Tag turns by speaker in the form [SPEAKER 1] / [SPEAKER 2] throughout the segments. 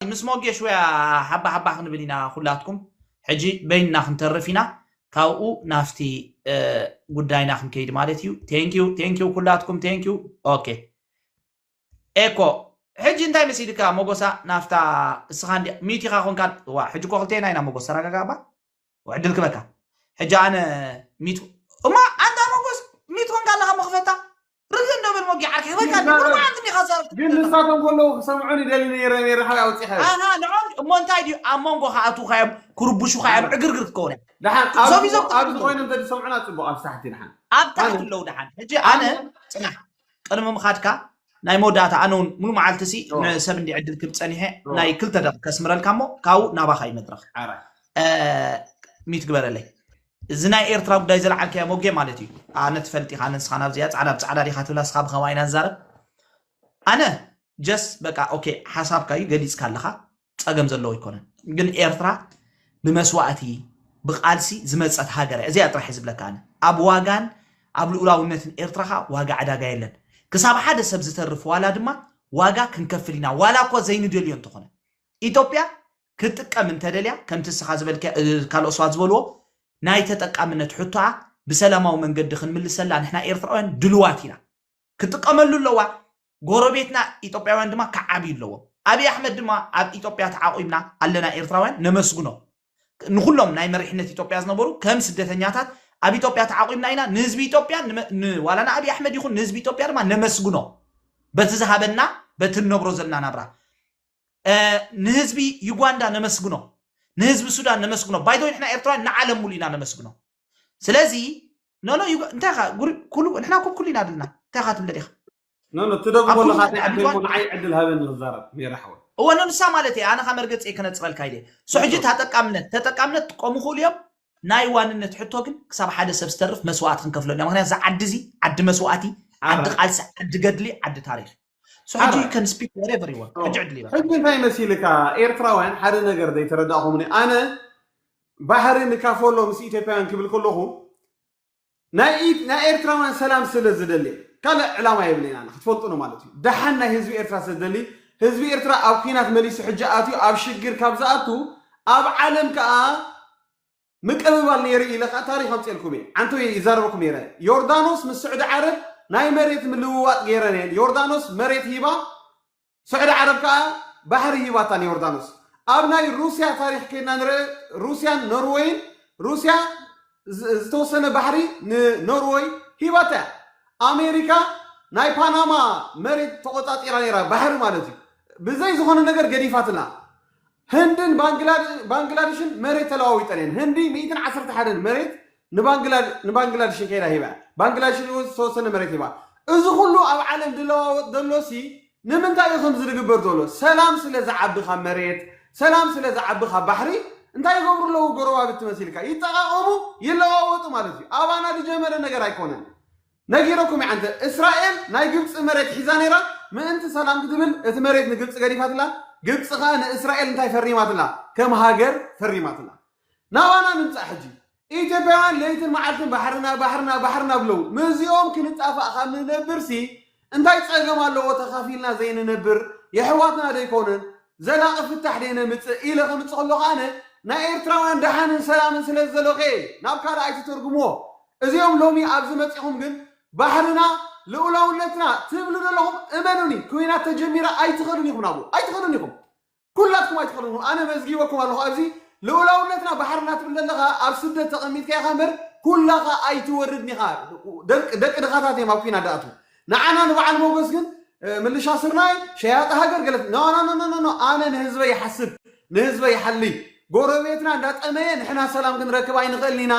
[SPEAKER 1] ምስ ሞጌሽውያ ሓባ ሓባ ክንብል ኢና ኩላትኩም ሕጂ በይንና ክንተርፍ ኢና ካብኡ ናፍቲ ጉዳይና ክንከይድ ማለት እዩ ቴንኪዩ ቴንኪዩ ኩላትኩም ቴንኪዩ ኦኬ ኤኮ ሕጂ እንታይ መሲልካ ሞጎሳ ናፍታ እስኻ እንዲ ሚዩት ኢኻ ኮንካ ዋ ሕጂ እኮ ክልቴና ኢና ሞጎስ ተረጋጋባ ዕድል ክበካ ሕጂ ኣነ ሚቱ እማ ኣንታ መጎስ ሚቱ ኮንካ ኣለካ መክፈታ ርግ እንደብል ሞጊ ዓርኪ ክበካ ንማዓንቲ ዲካ ዛርብ ግን ንሳቶም ከለዉ
[SPEAKER 2] ክሰምዑን ይደሊ ነይረ ነይረ ሓዊ ኣውፂኻ ኣና ንዖም እሞ እንታይ
[SPEAKER 1] ድዩ ኣብ መንጎ ከኣትውካ እዮም ክርቡሹካ እዮም ዕግርግር ክትከውን ድሓን ኣብዚ
[SPEAKER 2] ኮይኑ እንተ ዝሰምዑና ፅቡቅ ኣብ ሳሕቲ ድሓን ኣብ ታሕቲ ኣለዉ ድሓን
[SPEAKER 1] ሕጂ ኣነ ፅናሕ ቅድሚ ምኻድካ ናይ መወዳእታ ኣነ ውን ሙሉ መዓልቲ ሲ ን ኦህ ሰብ እንዲ ዕድል ክብ ጸኒሐ ኦህ ናይ ክልተ ደቂቅ ከስምረልካ እሞ ካብኡ ናባኻ እዩ መድረኽ ዓራት ሚዩት ግበረለይ እዚ ናይ ኤርትራ ጉዳይ ዘልዓልካዮ ሞጌ ማለት እዩ ኣነ ትፈልጥ ኢኻ ኣነ ንስኻን ኣብዚ እያ ጻዕዳ ብጻዕዳ ዲኻ ትብላ ንስኻ ብኸማይ ኢና ንዛረብ ኣነ ጀስት በቃ ኦኬ ሓሳብካ እዩ ገሊጽካ ኣለኻ ጸገም ዘለዎ ኣይኮነን ግን ኤርትራ ብመስዋእቲ ብቃልሲ ዝመጸት ሃገር እያ እዚኣ ጥራሕ ዝብለካ ኣነ ኣብ ዋጋን ኣብ ልኡላውነትን ኤርትራ ከኣ ዋጋ ዕዳጋ የለን ክሳብ ሓደ ሰብ ዝተርፍ ዋላ ድማ ዋጋ ክንከፍል ኢና ዋላ እኳ ዘይንደልዮ እንተኾነ ኢትዮጵያ ክትጥቀም እንተደልያ ከምቲ እስኻ ዝበልካ ካልኦት ሰባት ዝበልዎ ናይ ተጠቃምነት ሕቶኣ ብሰላማዊ መንገዲ ክንምልሰላ ንሕና ኤርትራውያን ድልዋት ኢና ክጥቀመሉ ኣለዋ ጎረቤትና ኢትዮጵያውያን ድማ ክዓብዩ ኣለዎም ኣብይ ኣሕመድ ድማ ኣብ ኢትዮጵያ ተዓቑብና ኣለና ኤርትራውያን ነመስግኖ ንኩሎም ናይ መሪሕነት ኢትዮጵያ ዝነበሩ ከም ስደተኛታት ኣብ ኢትዮጵያ ተዓቑብና ኢና ንህዝቢ ኢትዮጵያ ዋላ ንኣብይ ኣሕመድ ይኹን ንህዝቢ ኢትዮጵያ ድማ ነመስግኖ በቲ ዝሃበና በቲ ንነብሮ ዘለና ናብራ ንህዝቢ ዩጋንዳ ነመስግኖ ንህዝቢ ሱዳን ነመስግኖ ባይቶ ንሕና ኤርትራውያን ንዓለም ሙሉ ኢና ነመስግኖ ስለዚ ኖኖ እንታይ ኻ ኩሉ ንሕና ኩብ ኩሉ ኢና ድልና እንታይ ኻ ትብለ ዲኻ ኖኖ ትደግሞ
[SPEAKER 2] ኣለኻ እንታይ ዓዲ እሞ ንዓይ ዕድል ሃበኒ ክዛረብ ሜሪ ሓወይ እወ ኖኖ ንሳ ማለት
[SPEAKER 1] እየ ኣነ ካ መርገፂ ከነፅረልካ ኢለ ሶ ሕጂ ተጠቃምነት ተጠቃምነት ክቆሙ ይኽእሉ እዮም ናይ ዋንነት ሕቶ ግን ክሳብ ሓደ ሰብ ዝተርፍ መስዋእቲ ክንከፍለሉ ኢና ምክንያቱ እዚ ዓዲ እዚ ዓዲ መስዋእቲ ዓዲ ቃልሲ ዓዲ ገድሊ ዓዲ ታሪክ So How do you Alright. can speak whatever you want? Oh. ሕጂ ዕድል ይባካ። ሕጂ እንታይ መሲልካ
[SPEAKER 2] ኤርትራውያን ሓደ ነገር ዘይተረዳእኹምኒ ኣነ ባሕሪ ንካፈሎ ምስ ኢትዮጵያውያን ክብል ከለኹ ናይ ኢት- ናይ ኤርትራውያን ሰላም ስለ ዝደሊ እየ። ካልእ ዕላማ የብለይን ኣነ ክትፈልጡ ነው ማለት እዩ ደሓን ናይ ህዝቢ ኤርትራ ስለ ዝደሊ ህዝቢ ኤርትራ ኣብ ኩናት መሊሱ ሕጂ ኣትዩ ኣብ ሽግር ካብ ዝኣቱ ኣብ ዓለም ከዓ ምቅብባል ነይሩ ኢለ ከኣ ታሪኽ ኣምጽኤልኩም እየ። ዓንተው እየ ይዛረበኩም ነይረ። ዮርዳኖስ ምስ ስዑዲ ዓረብ ናይ መሬት ምልውዋጥ ገይረን እየን። ዮርዳኖስ መሬት ሂባ ስዑዲ ዓረብ ከኣ ባሕሪ ሂባታ ንዮርዳኖስ። ኣብ ናይ ሩስያ ታሪኽ ከይድና ንርእ ሩስያን ኖርወይን ሩስያ ዝተወሰነ ባሕሪ ንኖርወይ ሂባታ እያ። ኣሜሪካ ናይ ፓናማ መሬት ተቆጻጺራ ነይራ ባሕሪ ማለት እዩ። ብዘይ ዝኾነ ነገር ገዲፋትላ። ህንድን ባንግላድሽን መሬት ተለዋዊጠን እየን። ህንዲ ሚእትን ዓሰርተ ሓደን መሬት ንባንግላድሽን ከይዳ ሂባ እያ። ባንግላድሽን እውን ዝተወሰነ መሬት ሂባ። እዚ ኩሉ ኣብ ዓለም ዝለዋወጥ ዘሎሲ ንምንታይ እዩ ከምዚ ዝግበር ዘሎ? ሰላም ስለ ዝዓቢ ካብ መሬት፣ ሰላም ስለ ዝዓቢ ካብ ባሕሪ እንታይ ይገብሩ ኣለዉ ጎረባብቲ መሲልካ? ይጠቓቐሙ፣ ይለዋወጡ ማለት እዩ። ኣባና ዝጀመረ ነገር ኣይኮነን። ነጊረኩም እየ ዓንተ እስራኤል ናይ ግብጺ መሬት ሒዛ ነይራ ምእንቲ ሰላም ክትብል እቲ መሬት ንግብጺ ገዲፋትላ ግብጺ ከኣ ንእስራኤል እንታይ ፈሪማትላ ከም ሃገር ፈሪማትላ ናባና ንምጻእ ሕጂ ኢትዮጵያውያን ለይትን መዓልትን ባሕርና ባሕርና ባሕርና ብለው ምስዚኦም ክንጣፋእ ካብ ንነብርሲ እንታይ ጸገም ኣለዎ ተኻፊልና ዘይንነብር የሕዋትና ዶ ኣይኮኑን ዘላቂ ፍታሕ ደይ ነምጽእ ኢለ ከምጽእ ከሎ ከኣ ናይ ኤርትራውያን ደሓንን ሰላምን ስለ ዝደለኹ እየ ናብ ካልእ ኣይትተርጉምዎ እዚኦም ሎሚ ኣብዚ መጺኹም ግን ባሕርና ልኡላውነትና ትብሉ ደለኹም እመኑኒ ኩናት ተጀሚራ ኣይትኸዱን ኢኹም ናብኡ ኣይትኸዱን ኢኹም ኩላትኩም ኣይትኸዱን ኢኹም ኣነ መዝጊበኩም ኣለኹ ኣብዚ ልኡላውነትና ባሕርና ትብል ደለኻ ኣብ ስደት ተቐሚጥካ ኢኻ እምበር ኩላኻ ኣይትወርድን ኢኻ ደቂ ደቂ ድኻታት እዮም ኣብ ኩናት ደኣትዉ ንዓና ንበዓል ሞጎስ ግን ምልሻ ስርናይ ሸያጢ ሃገር ገለ ኖኖኖኖኖ ኣነ ንህዝበይ ይሓስብ ንህዝበይ ይሓሊ ጎረቤትና እንዳጠመየ ንሕና ሰላም ክንረክብ ኣይንኽእልን ኢና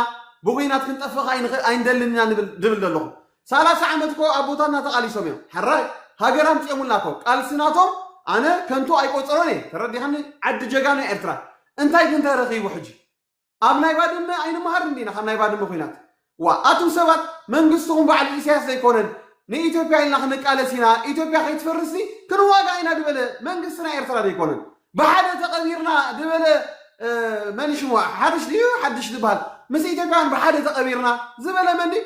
[SPEAKER 2] ብኩናት ክንጠፍእ ኣይንደልን ኢና ንብል ድብል ዘለኹ ሳላሳ ዓመት እኮ ኣቦታትና ተቓሊሶም እዮም ሕራይ ሃገር ኣምፂኦሙልና እኮ ቃልሲ ናቶም ኣነ ከንቱ ኣይቆፅሮን እየ ተረዲኻኒ ዓዲ ጀጋኑ ኤርትራ እንታይ ግን ተረኺቡ ሕጂ ኣብ ናይ ባድመ ኣይንመሃርን ዲና ካብ ናይ ባድመ ኩናት ዋእ ኣቱም ሰባት መንግስትኹም ባዕሉ ኢሰያስ ዘይኮነን ንኢትዮጵያ ኢልና ክንቃለስ ኢና ኢትዮጵያ ከይትፈርስሲ ክንዋጋእ ኢና ድበለ መንግስቲ ናይ ኤርትራ ደይኮነን ብሓደ ተቐቢርና ድበለ መን ሽሙ ሓድሽ ድዩ ሓድሽ ድበሃል ምስ ኢትዮጵያውያን ብሓደ ተቐቢርና ዝበለ መን ድዩ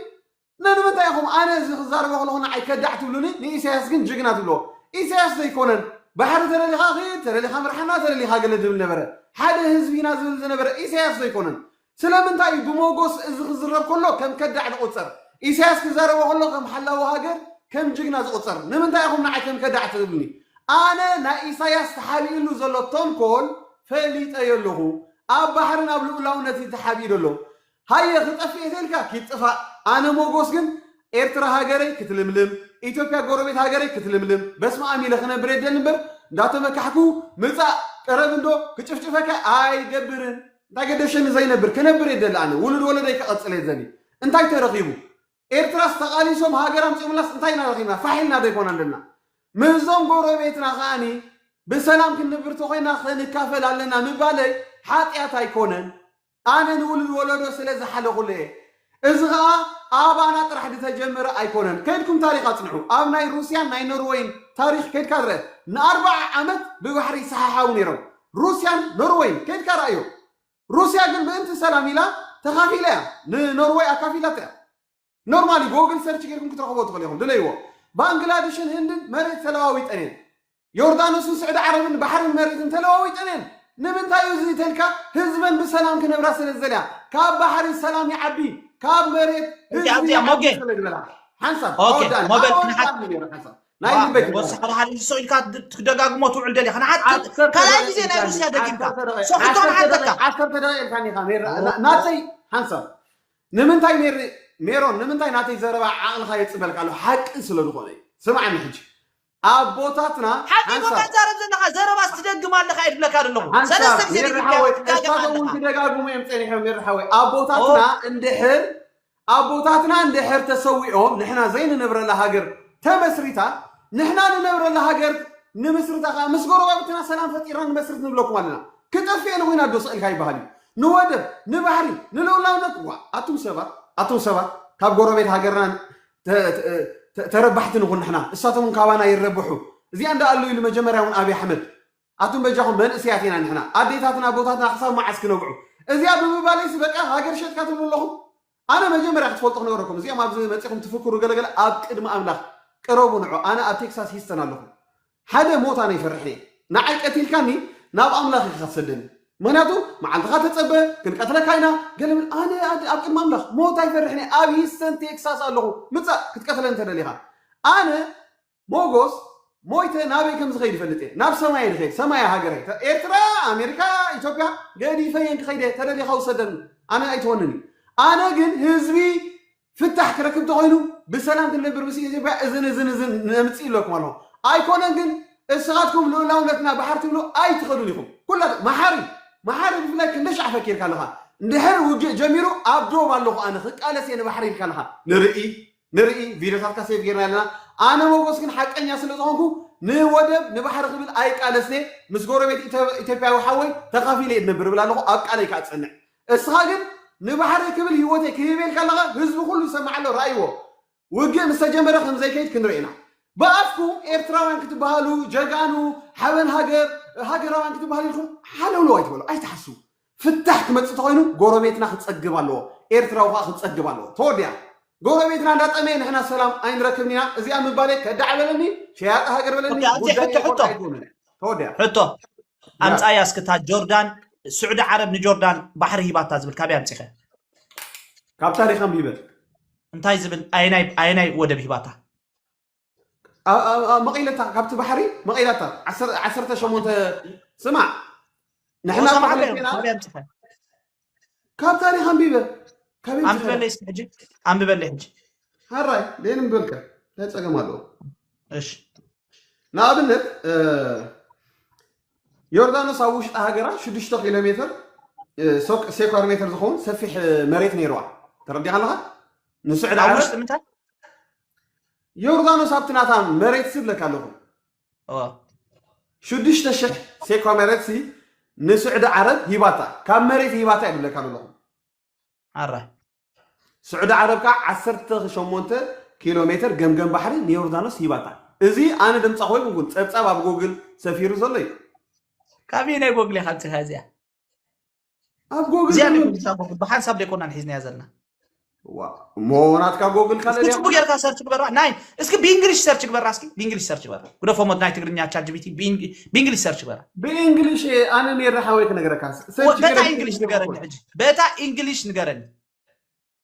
[SPEAKER 2] ነንምንታይ ኢኹም ኣነ እዚ ክዛረቦ ከለኹ ንዓይ ከዳዕ ትብሉኒ ንኢሰያስ ግን ጅግና ትብልዎ ኢሰያስ ዘይኮነን ባሕሪ ተለሊኻ ኺድ ተለሊኻ ምርሓና ተለሊኻ ገለ ዝብል ነበረ ሓደ ህዝቢ ኢና ዝብል ዝነበረ ኢሰያስ ዘይኮነን ስለምንታይ እዩ ብሞጎስ እዚ ክዝረብ ከሎ ከም ከዳዕ ዝቑጸር ኢሰያስ ክዛረቦ ከሎ ከም ሓላዊ ሃገር ከም ጅግና ዝቑጸር ንምንታይ ኢኹም ንዓይ ከም ከዳዕ ትብሉኒ ኣነ ናይ ኢሳያስ ተሓቢእሉ ዘሎ ተንኮል ፈሊጠዮ ኣለኹ ኣብ ባሕርን ኣብ ልኡላውነት እዩ ተሓቢኡ ዘሎ ሃየ ክጠፍእ እየ ተልካ ኪድ ጥፋእ ኣነ ሞጎስ ግን ኤርትራ ሃገረይ ክትልምልም ኢትዮፕያ ጎረቤት ሃገረይ ክትልምልም በስማኣም ኢለ ክነብር እየ ደሊ እምበር እንዳተመካሕኩ ምጻእ ቅረብ እንዶ ክጭፍጭፈካ ኣይገብርን እንታይ ገደሸኒ ዘይነብር ክነብር እየ ደሊ ኣነ ውሉድ ወለደይ ከቐጽል እየ ዘሊ እንታይ ተረኺቡ ኤርትራስ ተቓሊሶም ሃገር ኣምጺኦምላስ እንታይ ኢና ረኺብና ፋሕ ኢልና ዶ ኣይኮናን ደልና ምስዞም ጎረቤትና ከኣኒ ብሰላም ክንብር ተኾይና ክንካፈል ኣለና ምባለይ ሓጢኣት ኣይኮነን ኣነ ንውሉድ ወለዶ ስለ ዝሓለኹሉ እየ እዚ ከኣ ኣባና ጥራሕ ድተጀመረ ኣይኮነን ከድኩም ታሪኽ ኣጽንዑ ኣብ ናይ ሩስያን ናይ ኖርወይን ታሪኽ ከድካ ድረ ንኣርባዓ ዓመት ብባሕሪ ይሰሓሓቡ ነይሮም ሩስያን ኖርወይን ከድካ ረኣዮ ሩስያ ግን ምእንቲ ሰላም ኢላ ተኻፊላ እያ ንኖርወይ ኣካፊላታ እያ ኖርማሊ ጎግል ሰርች ጌርኩም ክትረኽብዎ ትኽእሉ ኢኹም ድለይዎ። ባንግላድሽን ህንድን መሬት ተለዋዊጠን እየን። ዮርዳኖስን ስዑዲ ዓረብን ባሕርን መሬትን ተለዋዊጠን እየን። ንምንታይ እዩ እዚ ተልካ ህዝበን ብሰላም ክነብራ ስለ ዝደልያ ካብ ባሕሪ ሰላም ይዓቢ ካብ መሬት ህዝቢ ይዓቢ ስለ ዝበላ
[SPEAKER 1] ሓንሳብ
[SPEAKER 2] ኣወዳኒ ኣወዳኒ
[SPEAKER 1] ነይሩ ሓንሳብ
[SPEAKER 2] ናይ ልበይ ወሰኻ ድሓር ይሶ
[SPEAKER 1] ኢልካ ትደጋግሞ ትውዕል ደሊኻ ንሓት ካልኣይ ግዜ ናይ ሩስያ ደጊምካ ሶሒቶ ንሓተካ ዓሰርተ ደቂቕ ኢልካኒ
[SPEAKER 2] ኢኻ ናተይ ሓንሳብ ንምንታይ ሜሪ ሜሮን ንምንታይ ናተይ ዘረባ ዓቅልካ የጽበልካ ኣሎ ሓቂ ስለ ዝኮነ እዩ ስምዓኒ ሕጂ ኣቦታትና ሓቂ እኮ ሓንሳብ
[SPEAKER 1] ትዛረብ ዘለካ ዘረባስ ትደግም ኣለካ እየ ዝብለካ ዘለኩ ሓንሳብ ሰለስተ ግዜ ሜሪ ደጊምካዮ ሓወይ ትጋገም እሳቶም እውን ኣለካ
[SPEAKER 2] ክደጋግሙ እዮም ጸኒሖም ሜሪ ሓወይ ኦ ኣቦታትና እንድሕር ኣቦታትና እንድሕር ተሰዊኦም ንሕና ዘይንነብረላ ሃገር ተመስሪታ ንሕና ንነብረላ ሃገር ንምስርታ ከኣ ምስ ጎረባብትና ሰላም ፈጢርና ንመስርት ንብለኩም ኣለና ክጠፍኤን ኮይና ዶ ስእልካ ይበሃል እዩ ንወደብ ንባህሪ ንልኡላውነት ዋእ ኣቱም ሰባት ኣቱም ሰባት ካብ ጎረቤት ሃገርና ተ- ተ- ተ- ተረባሕቲ ንኹን ንሕና እሳቶም እውን ካባና ይረብሑ እዚኣ እንዳኣሉ ኢሉ መጀመርያ እውን ኣብይ ኣሕመድ ኣቱም በጃኹም መንእስያት ኢና ንሕና ኣዴታትና ኣቦታትና ክሳብ መዓስ ክነብዑ እዚኣ ብምባለይስ በቃ ሃገር ሸጥካ ትብሉ ኣለኹም ኣነ መጀመርያ ክትፈልጡ ክነግረኩም እዚኦም ኣብዚ መጺኹም ትፍክሩ ገለ ገለ ኣብ ቅድሚ ኣምላኽ ቅረቡ ንዑ ኣነ ኣብ ቴክሳስ ሂስተን ኣለኹ ሓደ ሞት ኣነ ይፈርሕ እየ ንዓይ ቀቲልካኒ ናብ ኣምላኽ ኢኻ ክትሰደኒ ምኽንያቱ መዓልትኻ ተጸበ ክንቀትለካ ኢና ገለ ብል ኣነ ኣብ ቅድሚ ኣምላኽ ሞት ኣይፈርሕን እየ ኣብ ሂስተን ቴክሳስ ኣለኹ ምጻእ ክትቀትለኒ ተደሊኻ ኣነ ሞጎስ ሞይተ ናበይ ከም ዝኸይድ ይፈልጥ እየ ናብ ሰማይ እየ ዝኸይድ ሰማይ እያ ሃገረይ ተ- ኤርትራ ኣሜሪካ ኢትዮጵያ ገዲፈ እየን ክኸይድ እየ ተደሊኻ ውሰደኒ ኣነ ኣይትኾንን እዩ ኣነ ግን ህዝቢ ፍታሕ ክረክብ ተኾይኑ ብሰላም ክንነብር ምስ ኢትዮጵያ እዝን እዝን እዝን ነምፅእ ኢለኩም ኣለኹ ኣይኮነን ግን እስኻትኩም ልኡላውነትና ባሕር ትብሉ ኣይትኸዱን ኢኹም ኩላትኩም መሓሪ መሓሪ ብፍላይ ክንደይ ሻዕ ፈኪርካ ኣለኻ እንድሕር ውግእ ጀሚሩ ኣብ ዶብ ኣለኹ ኣነ ክቃለስ እየ ንባሕሪ ኢልካ ኣለኻ ንርኢ ንርኢ ቪድዮታትካ ሴቭ ጌርናዮ ኣለና ኣነ ሞጎስ ግን ሓቀኛ ስለ ዝኮንኩ ንወደብ ንባሕሪ ክብል ኣይቃለስኔ ምስ ጎረቤት ኢቶፕያዊ ሓወይ ተካፊለ እየ ድነብር እብል ኣለኩ ኣብ ቃለይ ካኣ ዝጸንዕ እስካ ግን ንባሕረይ ክብል ሂወተይ ክህብ እየ ኢልካ ኣለካ ህዝቢ ኩሉ ይሰምዕ ኣሎ ራእይዎ ውግእ ምስ ተጀመረ ከም ዘይከይድ ክንርኢ ኢና ብኣፍኩም ኤርትራውያን ክትበሃሉ ጀጋኑ ሓበን ሃገር ሃገራውያን ክትበሃሉ ኢልኩም ሓለውለው ኣይትበሉ ኣይትሓስው ፍታሕ ክመጽእ ተኾይኑ ጎረቤትና ክጸግብ ኣለዎ ኤርትራዊ ከኣ ክጸግብ ኣለዎ ተወዲኣ ጎረቤትና እንዳጠመየ ንሕና ሰላም ኣይንረክብን ኢና እዚኣ ምባለይ ከዳዕ በለኒ ሸያጢ ሃገር በለኒ ኦኬ፣ ኣንታይ ጉዳይ ሕቶ ይኹን ሕቶ ኣይኮነን እያ ተወዲኣ ሕቶ
[SPEAKER 1] ያ ኣምጻያ እስኪ እታ ጆርዳን ስዑዲ ዓረብ ንጆርዳን ባሕሪ ሂባታ ዝብል ካበይ ኣምጺኸ
[SPEAKER 2] ካብ ታሪኽ ኣንቢበ እንታይ ዝብል
[SPEAKER 1] ኣየናይ ኣየናይ ወደብ ሂባታ
[SPEAKER 2] መቒለታ ካብቲ ባሕሪ መቒላታ ዓሰርተ ሸሞንተ ስማዕ ንሕና ኳዕለና ካብ ታሪክ ኣንቢበ ካበይ ኣንብበለይ
[SPEAKER 1] እስኪ ሕጂ ኣንብበለይ ሕጂ ሃራይ
[SPEAKER 2] ደይ ንብበልካ እንታይ ፀገም ኣለዎ እሺ ንኣብነት ዮርዳኖስ ኣብ ውሽጢ ሃገራ 6 ኪሎ ሜትር ሴኳር ሜትር ዝኸውን ሰፊሕ መሬት ነይርዋ ተረዲኻ ኣለኻ ንስዕድ ኣብ ውሽጢ ምንታይ
[SPEAKER 1] ዮርዳኖስ
[SPEAKER 2] ኣብቲ ናታ መሬት ሲ ብለካ ኣለኹ ሽዱሽተ ሽሕ ሴኳ መሬት ሲ ንስዑዲ ዓረብ ሂባታ ካብ መሬት ሂባታ እዩ ብለካ ኣለኹ ኣራ ስዑዲ ዓረብ ከዓ ዓሰርተ ሸሞንተ ኪሎ ሜትር ገምገም ባሕሪ ንዮርዳኖስ ሂባታ እዚ ኣነ ድምፃ ኮይኑ እውን ፀብፃብ ኣብ ጎግል ሰፊሩ ዘሎ እዩ ካብይ
[SPEAKER 1] ናይ ጎግል ኢኻ ምፅኻ እዚኣ
[SPEAKER 2] ኣብ
[SPEAKER 1] ጎግል እዚኣ ድማ- ፖሊሳ ጎግል ብሓንሳብ ደይኮናን ሒዝናያ
[SPEAKER 2] ዘለና
[SPEAKER 1] ዋ- እሞ
[SPEAKER 2] ናትካ ጎግል ካለ እስኪ ድያ ጽቡቅ ጌርካ ሰርች ግበራ
[SPEAKER 1] ናይ እስኪ ብእንግሊሽ ሰርች ግበራ እስኪ ብእንግሊሽ ሰርች ግበራ ጉደፎ ሞት ናይ ትግርኛ ቻት ጂቢቲ ብእንግ- ብእንግሊሽ ሰርች ግበራ ብእንግሊሽ እየ ኣነ
[SPEAKER 2] ሜራ ሓወይ ክነግረካ ሰርች በታ ገይረ- እንግሊሽ
[SPEAKER 1] ንገረኒ ሕጂ በታ እንግሊሽ ንገረኒ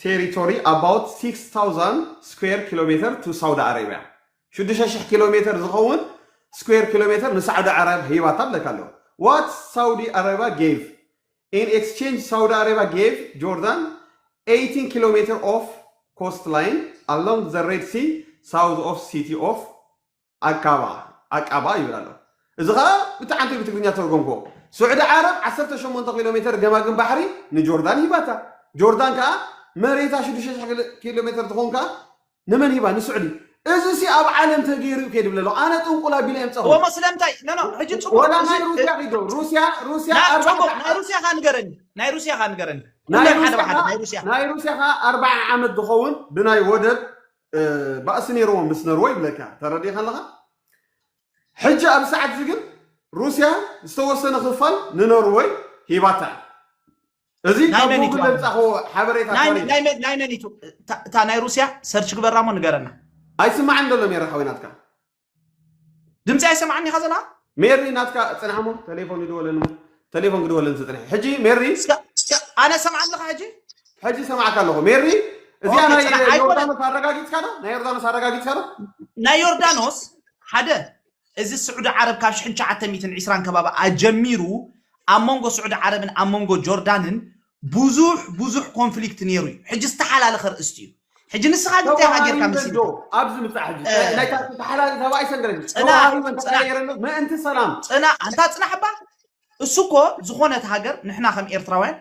[SPEAKER 2] ቴሪቶሪ ኣባውት ሲክስ ታውዛንድ ስኩዌር ኪሎሜተር ቱ ሳውዲ ኣረብያ ሽዱሽተ ሽሕ ኪሎሜተር ዝኸውን ስኩዌር ኪሎሜተር ንሳዑዲ ዓረብ ሂባታ ብለካ ኣለኹ ዋት ሳውዲ ኣረብያ ጌቭ ኢን ኤክስቼንጅ ሳውዲ ኣረብያ ጌቭ ጆርዳን ኤይቲን ኪሎሜተር ኦፍ ኮስት ላይን ኣሎንግ ዘ ሬድ ሲ ሳውዝ ኦፍ ሲቲ ኦፍ ኣቃባ፣ ኣቃባ፣ ይብል ኣሎ። እዚ ኸኣ ብተዓንተዩ ብትግርኛ ዝተርጎምክዎ። ስዑዲ ዓረብ ዓሰርተ ሸሞንተ ኪሎ ሜተር ገማግም ባሕሪ ንጆርዳን ሂባታ። ጆርዳን ከኣ መሬታ ሽዱሽተ ሽሕ ኪሎ ሜተር ትኸውን ከኣ ንመን ሂባ? ንስዑዲ። እዚሲ ኣብ ዓለም ተገይሩ እዩ ከይድብለ ኣለኹ። ኣነ ጥንቁል ኣቢለ የምጸኹ። እሞ ስለምንታይ ኖኖ
[SPEAKER 1] ሕጂ ጽቡቅ ወላ ናይ እዚ ሩስያ ኪዶ ብ-
[SPEAKER 2] ሩስያ ሩስያ ናይ ኣርባዕተ ጽቡቅ ናይ
[SPEAKER 1] ሩስያ ከ ንገረኒ ናይ ሩስያ ከ ንገረኒ ናይ ኩለን ሓደ ሩስያ ብሓደ ከኣ- ናይ ሩስያ
[SPEAKER 2] ናይ ሩስያ ከኣ ኣርባዓ ዓመት ዝኸውን ብናይ ወደብ ባእሲ ነይርዎም ምስ ነርወይ ይብለካ ተረዲኻ ኣለኻ ሕጂ ኣብ ሰዓት እዚ ግን ሩስያ ዝተወሰነ ክፋል ንኖርወይ ሂባታ እያ እዚ ናይ ካብ መን እዩ ጉግል ተባሂሉ? ለብፃኸዎ ሓበሬታ ናይ ታሪክ ናይ መን ናይ መን
[SPEAKER 1] እዩ እታ ናይ ሩስያ ሰርች ግበራ እሞ ንገረና ኣይስማዕን ደሎ
[SPEAKER 2] ሜራ ሓወይ ናትካ
[SPEAKER 1] ድምፂ ኣይሰማዕን ኢኻ ዘለኻ ሜሪ ናትካ
[SPEAKER 2] ፅንሕ እሞ ቴሌፎን ይድወለኒ እሞ ቴሌፎን ክድወለኒ ዝፅንሐ ሕጂ ሜሪ እስከ እስከ ኣነ ሰምዓ
[SPEAKER 1] ኣለኻ ሕጂ ሕጂ ሰማዕካ
[SPEAKER 2] ኣለኹ ሜሪ እዚኣ ኦኬ ናይ ፅናሕ ኣይኮነን ዮርዳኖስ ኣረጋጊፅካ ዶ ናይ ዮርዳኖስ ኣረጋጊፅካ ዶ ናይ ዮርዳኖስ
[SPEAKER 1] ሓደ እዚ ስዑዲ ዓረብ ካብ 1920 ከባቢ ኣጀሚሩ ኣብ መንጎ ስዑዲ ዓረብን ኣብ መንጎ ጆርዳንን ብዙሕ ብዙሕ ኮንፍሊክት ነይሩ እዩ ሕጂ ዝተሓላለኸ ርእስቲ እዩ ሕጂ ንስኻ ግን እንታይ ኢኻ ጌርካ ተዋሃሂበን ዶ መሲልካ ኣብዚ ምፃእ ሕጂ
[SPEAKER 2] እ፣ ናይ ታ- ተሓላሊ ተባይ ሰንገረኝ ፅናሕ ተዋሃሂበን ፅናሕ ተቀያየረን ዶ ምእንቲ ሰላም ፅና ኣንታ ፅናሕ
[SPEAKER 1] እባ እሱ እኮ ዝኾነት ሃገር ንሕና ከም ኤርትራውያን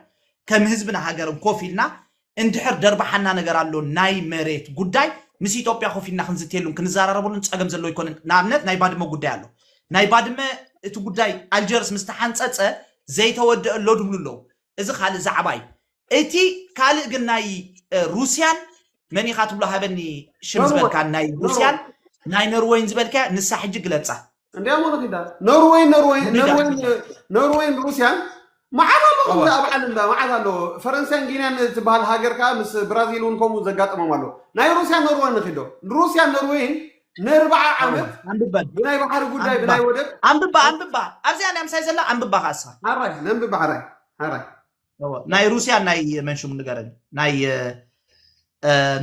[SPEAKER 1] ከም ህዝብና ሃገርን ኮፍ ኢልና እንድሕር ደርባሓና ነገር ኣሎ ናይ መሬት ጉዳይ ምስ ኢትዮጵያ ኮፍ ኢልና ክንዝትየሉን ክንዘራረበሉን ፀገም ዘለዎ ኣይኮነን ንኣብነት ናይ ባድመ ጉዳይ ኣሎ ናይ ባድመ እቲ ጉዳይ ኣልጀርስ ምስ ተሓንፀፀ ዘይተወደአ ኣሎ ድብሉ ኣለዉ እዚ ካልእ ዛዕባ እዩ እቲ ካልእ ግን ናይ ሩስያን መን ኢኻ ትብሎ ሃበኒ ሽም ኖርወይ ዝበልካ ናይ ኖርወይ ሩስያን ናይ ኖርወይን ዝበልካያ ንሳ ሕጂ ግለጻ እንዲያ ሞ ንኺዳ
[SPEAKER 2] ኖርወይ ኖርወይ ንዳ ኖርወይ ንዳ ኖርወይን ሩስያን መዓት ኣሎ ከምዚ እወ ኣብ ዓለም እንዳ መዓት ኣሎ ፈረንሳይን ጊንያን ትበሃል ሃገር ከዓ ምስ ብራዚል እውን ከምኡ ዘጋጠሞም ኣሎ ናይ ሩስያን ኖርወይን ንኺዶ ሩስያን ኖርወይን ንርብዓ ዓመት ብናይ ባሕሪ
[SPEAKER 1] ጉዳይ
[SPEAKER 2] ብናይ ወደብ ኣንብባ ኣንብባ
[SPEAKER 1] ኣብዚኣ ናይ ምሳይ ዘላ ኣንብባ ከዓ እሳ ኣራይ ነንብባ ኣራይ
[SPEAKER 2] ኣራይ ናይ
[SPEAKER 1] ሩስያ ናይ መንሽሙ ንገረኒ ናይ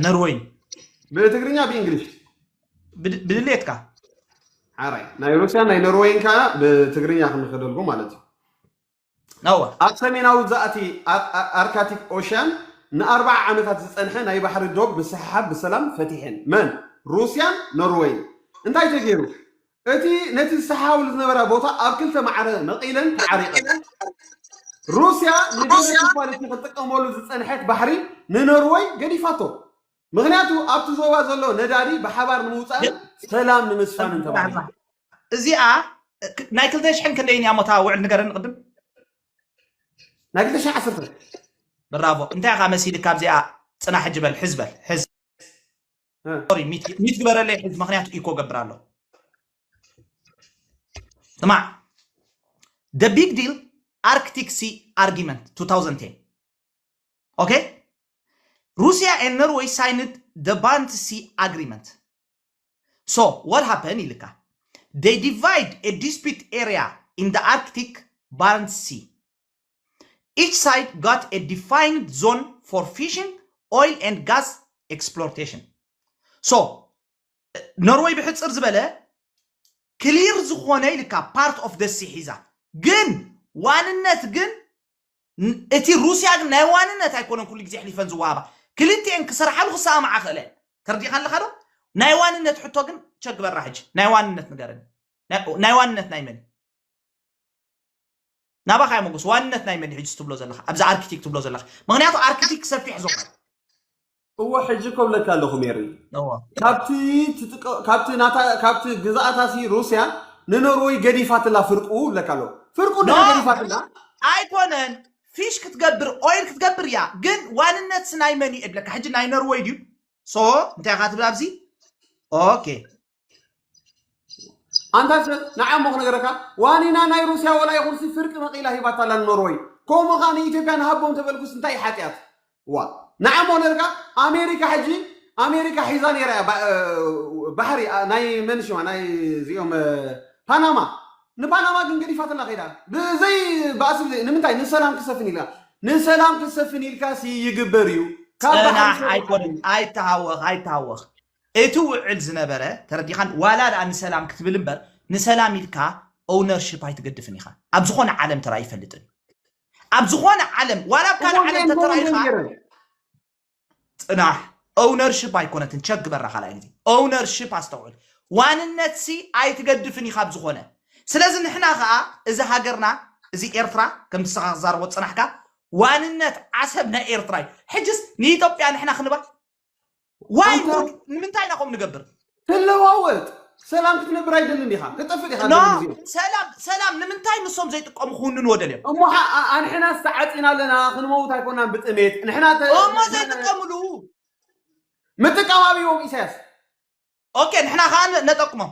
[SPEAKER 1] ነርወይን ብትግርኛ
[SPEAKER 2] ብእንግሊሽ
[SPEAKER 1] ብድሌትካ
[SPEAKER 2] ሓራይ ናይ ሩስያ ናይ ኖርወይን ከዓ ብትግርኛ ክንኸደልጎ ማለት እዩ
[SPEAKER 1] ናዋ። ኣብ ሰሜናዊ
[SPEAKER 2] ዛእቲ ኣርካቲክ ኦሽያን ንኣርብዓ ዓመታት ዝጸንሐ ናይ ባሕሪ ዶብ ምስሕሓብ ብሰላም ፈቲሐን። መን? ሩስያን ኖርወይን። እንታይ ተገይሩ? እቲ ነቲ ዝሰሓሓብሉ ዝነበራ ቦታ ኣብ ክልተ ማዕረ መቒለን ተዓሪቐን። ሩስያ ንድሕሪ ክፋል እቲ ክትጥቀመሉ ዝጸንሐት ባሕሪ ንኖርወይ ገዲፋቶ። ምኽንያቱ ኣብቲ ዞባ ዘሎ ነዳዲ ብሓባር ንምውፃእን ሰላም ንምስፋንን ተባሂሉ። እዚኣ
[SPEAKER 1] ናይ ክልተ ሽሕን ክንደይን እያ ሞታ ውዕል ንገረኒ ቅድም
[SPEAKER 2] ናይ ክልተ ሽሕ ዓሰርተ ብራቮ
[SPEAKER 1] እንታይ ኢኻ መሲልካ ኣብዚኣ ፅና ሕጂ በል ሕዝ በል ሕዝ ሶሪ ሚት ግበረለይ ሕዝ ምክንያቱ ኢኮ ገብር ኣሎ ስማዕ ደ ቢግ ዲል ኣርክቲክ ሲ ኣርጊመንት 2010 ኦኬ ሩስያ ኤን ኖርወይ ሳይንድ ደ ባረንት ሲ ኣግሪመንት ሶ ዋት ሃፐን ኢልካ ዴይ ዲቫይድ ኤ ዲስፒት ኤርያ ኢን ደ ኣርክቲክ ባረንት ሲ ኢች ሳይድ ጋት ኤ ዲፋይንድ ዞን ፎር ፊሽንግ ኦይል ኤንድ ጋዝ ኤክስፕሎርቴሽን ሶ ኖርወይ ብሕፅር ዝበለ ክሊር ዝኾነ ኢልካ ፓርት ኦፍ ደሲ ሒዛ ግን ዋንነት ግን ን- እቲ ሩስያ ግን ናይ ዋንነት ኣይኮነን ኩሉ ግዜ ኣሕሊፈን ዝወሃባ ክልቲኤን ክሰርሓሉ ክሰማምዓ ክእለ እየን ተርዲእካ ኣለካ ዶ ናይ ዋንነት ሕቶ ግን ቸክ ግበራ ሕጂ ናይ ዋንነት ንገረኒ ናይ- ናይ ዋንነት ናይ መን እዩ? ናባኻ እየ መጎስ ዋንነት ናይ መን እዩ ሕጂ ትብሎ ዘለኻ ኣብዚ ኣርኪቲክ ትብሎ ዘለኻ ምክንያቱ ኣርኪቲክ ሰፊሕ ዞባ እዩ። እወ
[SPEAKER 2] ሕጂ እኮ ብለካ ኣለኹ ሜሪ እወ ካብቲ ትጥቀ- ካብቲ ናታ- ካብቲ ግዝኣታሲ ሩስያ ንኖርወይ ገዲፋትላ ፍርቁ ብለካ ኣለኹ ፍርቁ ኖ ድሕሪ ገዲፋትላ ኣይኮነን
[SPEAKER 1] ፊሽ ክትገብር ኦይል ክትገብር እያ ግን ዋንነት ስናይ መን እዩ እብለካ ሕጂ ናይ ኖርወይ ድዩ ሶ እንታይ ኢኻ ትብል ኣብዚ ኦኬ
[SPEAKER 2] ኣንታ ሰብ ንዓ እሞ ክነገረካ ዋኒና ናይ ሩስያ ወላ ይኹንሲ ፍርቂ መቂላ ሂባታ ኣላ ንኖርወይ ከምኡ ከዓ ንኢትዮጵያ ንሃቦም ተበልኩስ እንታይ እዩ ሓጢኣት ዋ ንዓ እሞ ክነገርካ ኣሜሪካ ሕጂ ኣሜሪካ ሒዛ ነይራ እያ ባ- እ፣ ባሕሪ ኣ፣ ናይ መን ሽማ ናይ እዚኦም እ፣ ፓናማ ንፓናማ ግን ገዲፋትና ከይዳ ብዘይ ባእሲ ብዘይ ንምንታይ ንሰላም ክሰፍን ኢልካ ንሰላም ክሰፍን ኢልካ ሲ ይግበር እዩ ካብ ባሕሪ ፅናሕ ሰሪሕካ
[SPEAKER 1] ኣይኮነን ኣይተሃወኽ ኣይተሃወኽ እቲ ውዕል ዝነበረ ተረዲኻን ዋላ ድኣ ንሰላም ክትብል እምበር ንሰላም ኢልካ ኦውነርሽፕ ኣይትገድፍን ኢኻ ኣብ ዝኾነ ዓለም ተራእዩ ኣይፈልጥን እዩ ኣብ ዝኾነ ዓለም ዋላ ኣብ ካልእ ዓለም ተተራኢኻ ጽናሕ ኦውነርሽፕ ኣይኮነትን ቸክ ግበራ ካልኣይ ግዜ ኦውነርሽፕ ኣስተውዕል ዋንነት ሲ ኣይትገድፍን ኢኻ ኣብ ዝኾነ ስለዚ ንሕና ከዓ እዚ ሃገርና እዚ ኤርትራ ከም ንስኻ ክዛረቦ ፅናሕካ ዋንነት ዓሰብ ናይ ኤርትራ እዩ ሕጅስ ንኢትዮጵያ ንሕና ክንባ ዋይ ኣንታ ውድ ንምንታይ ኢና ከምኡ ንገብር ትለዋወጥ
[SPEAKER 2] ሰላም ክትነብር ኣይደልን ኢኻ ክጠፍእ ኢኻ ኖ ደሊ ግዜኡ ሰላም ሰላም
[SPEAKER 1] ንምንታይ ንሶም ዘይጥቀሙ ክውንንዎ ደልዮም እሞ ሓ- ኣ- ኣ- ንሕና
[SPEAKER 2] ዝተዓፂና ኣለና ክንመውት ኣይኮናን ብጥሜት ንሕና ተ- እሞ ን- ዘይጥቀምሉ ምጥቃም ኣብዎም ኢሳያስ ኦኬ
[SPEAKER 1] ንሕና ከዓ ን- ነጠቅሞም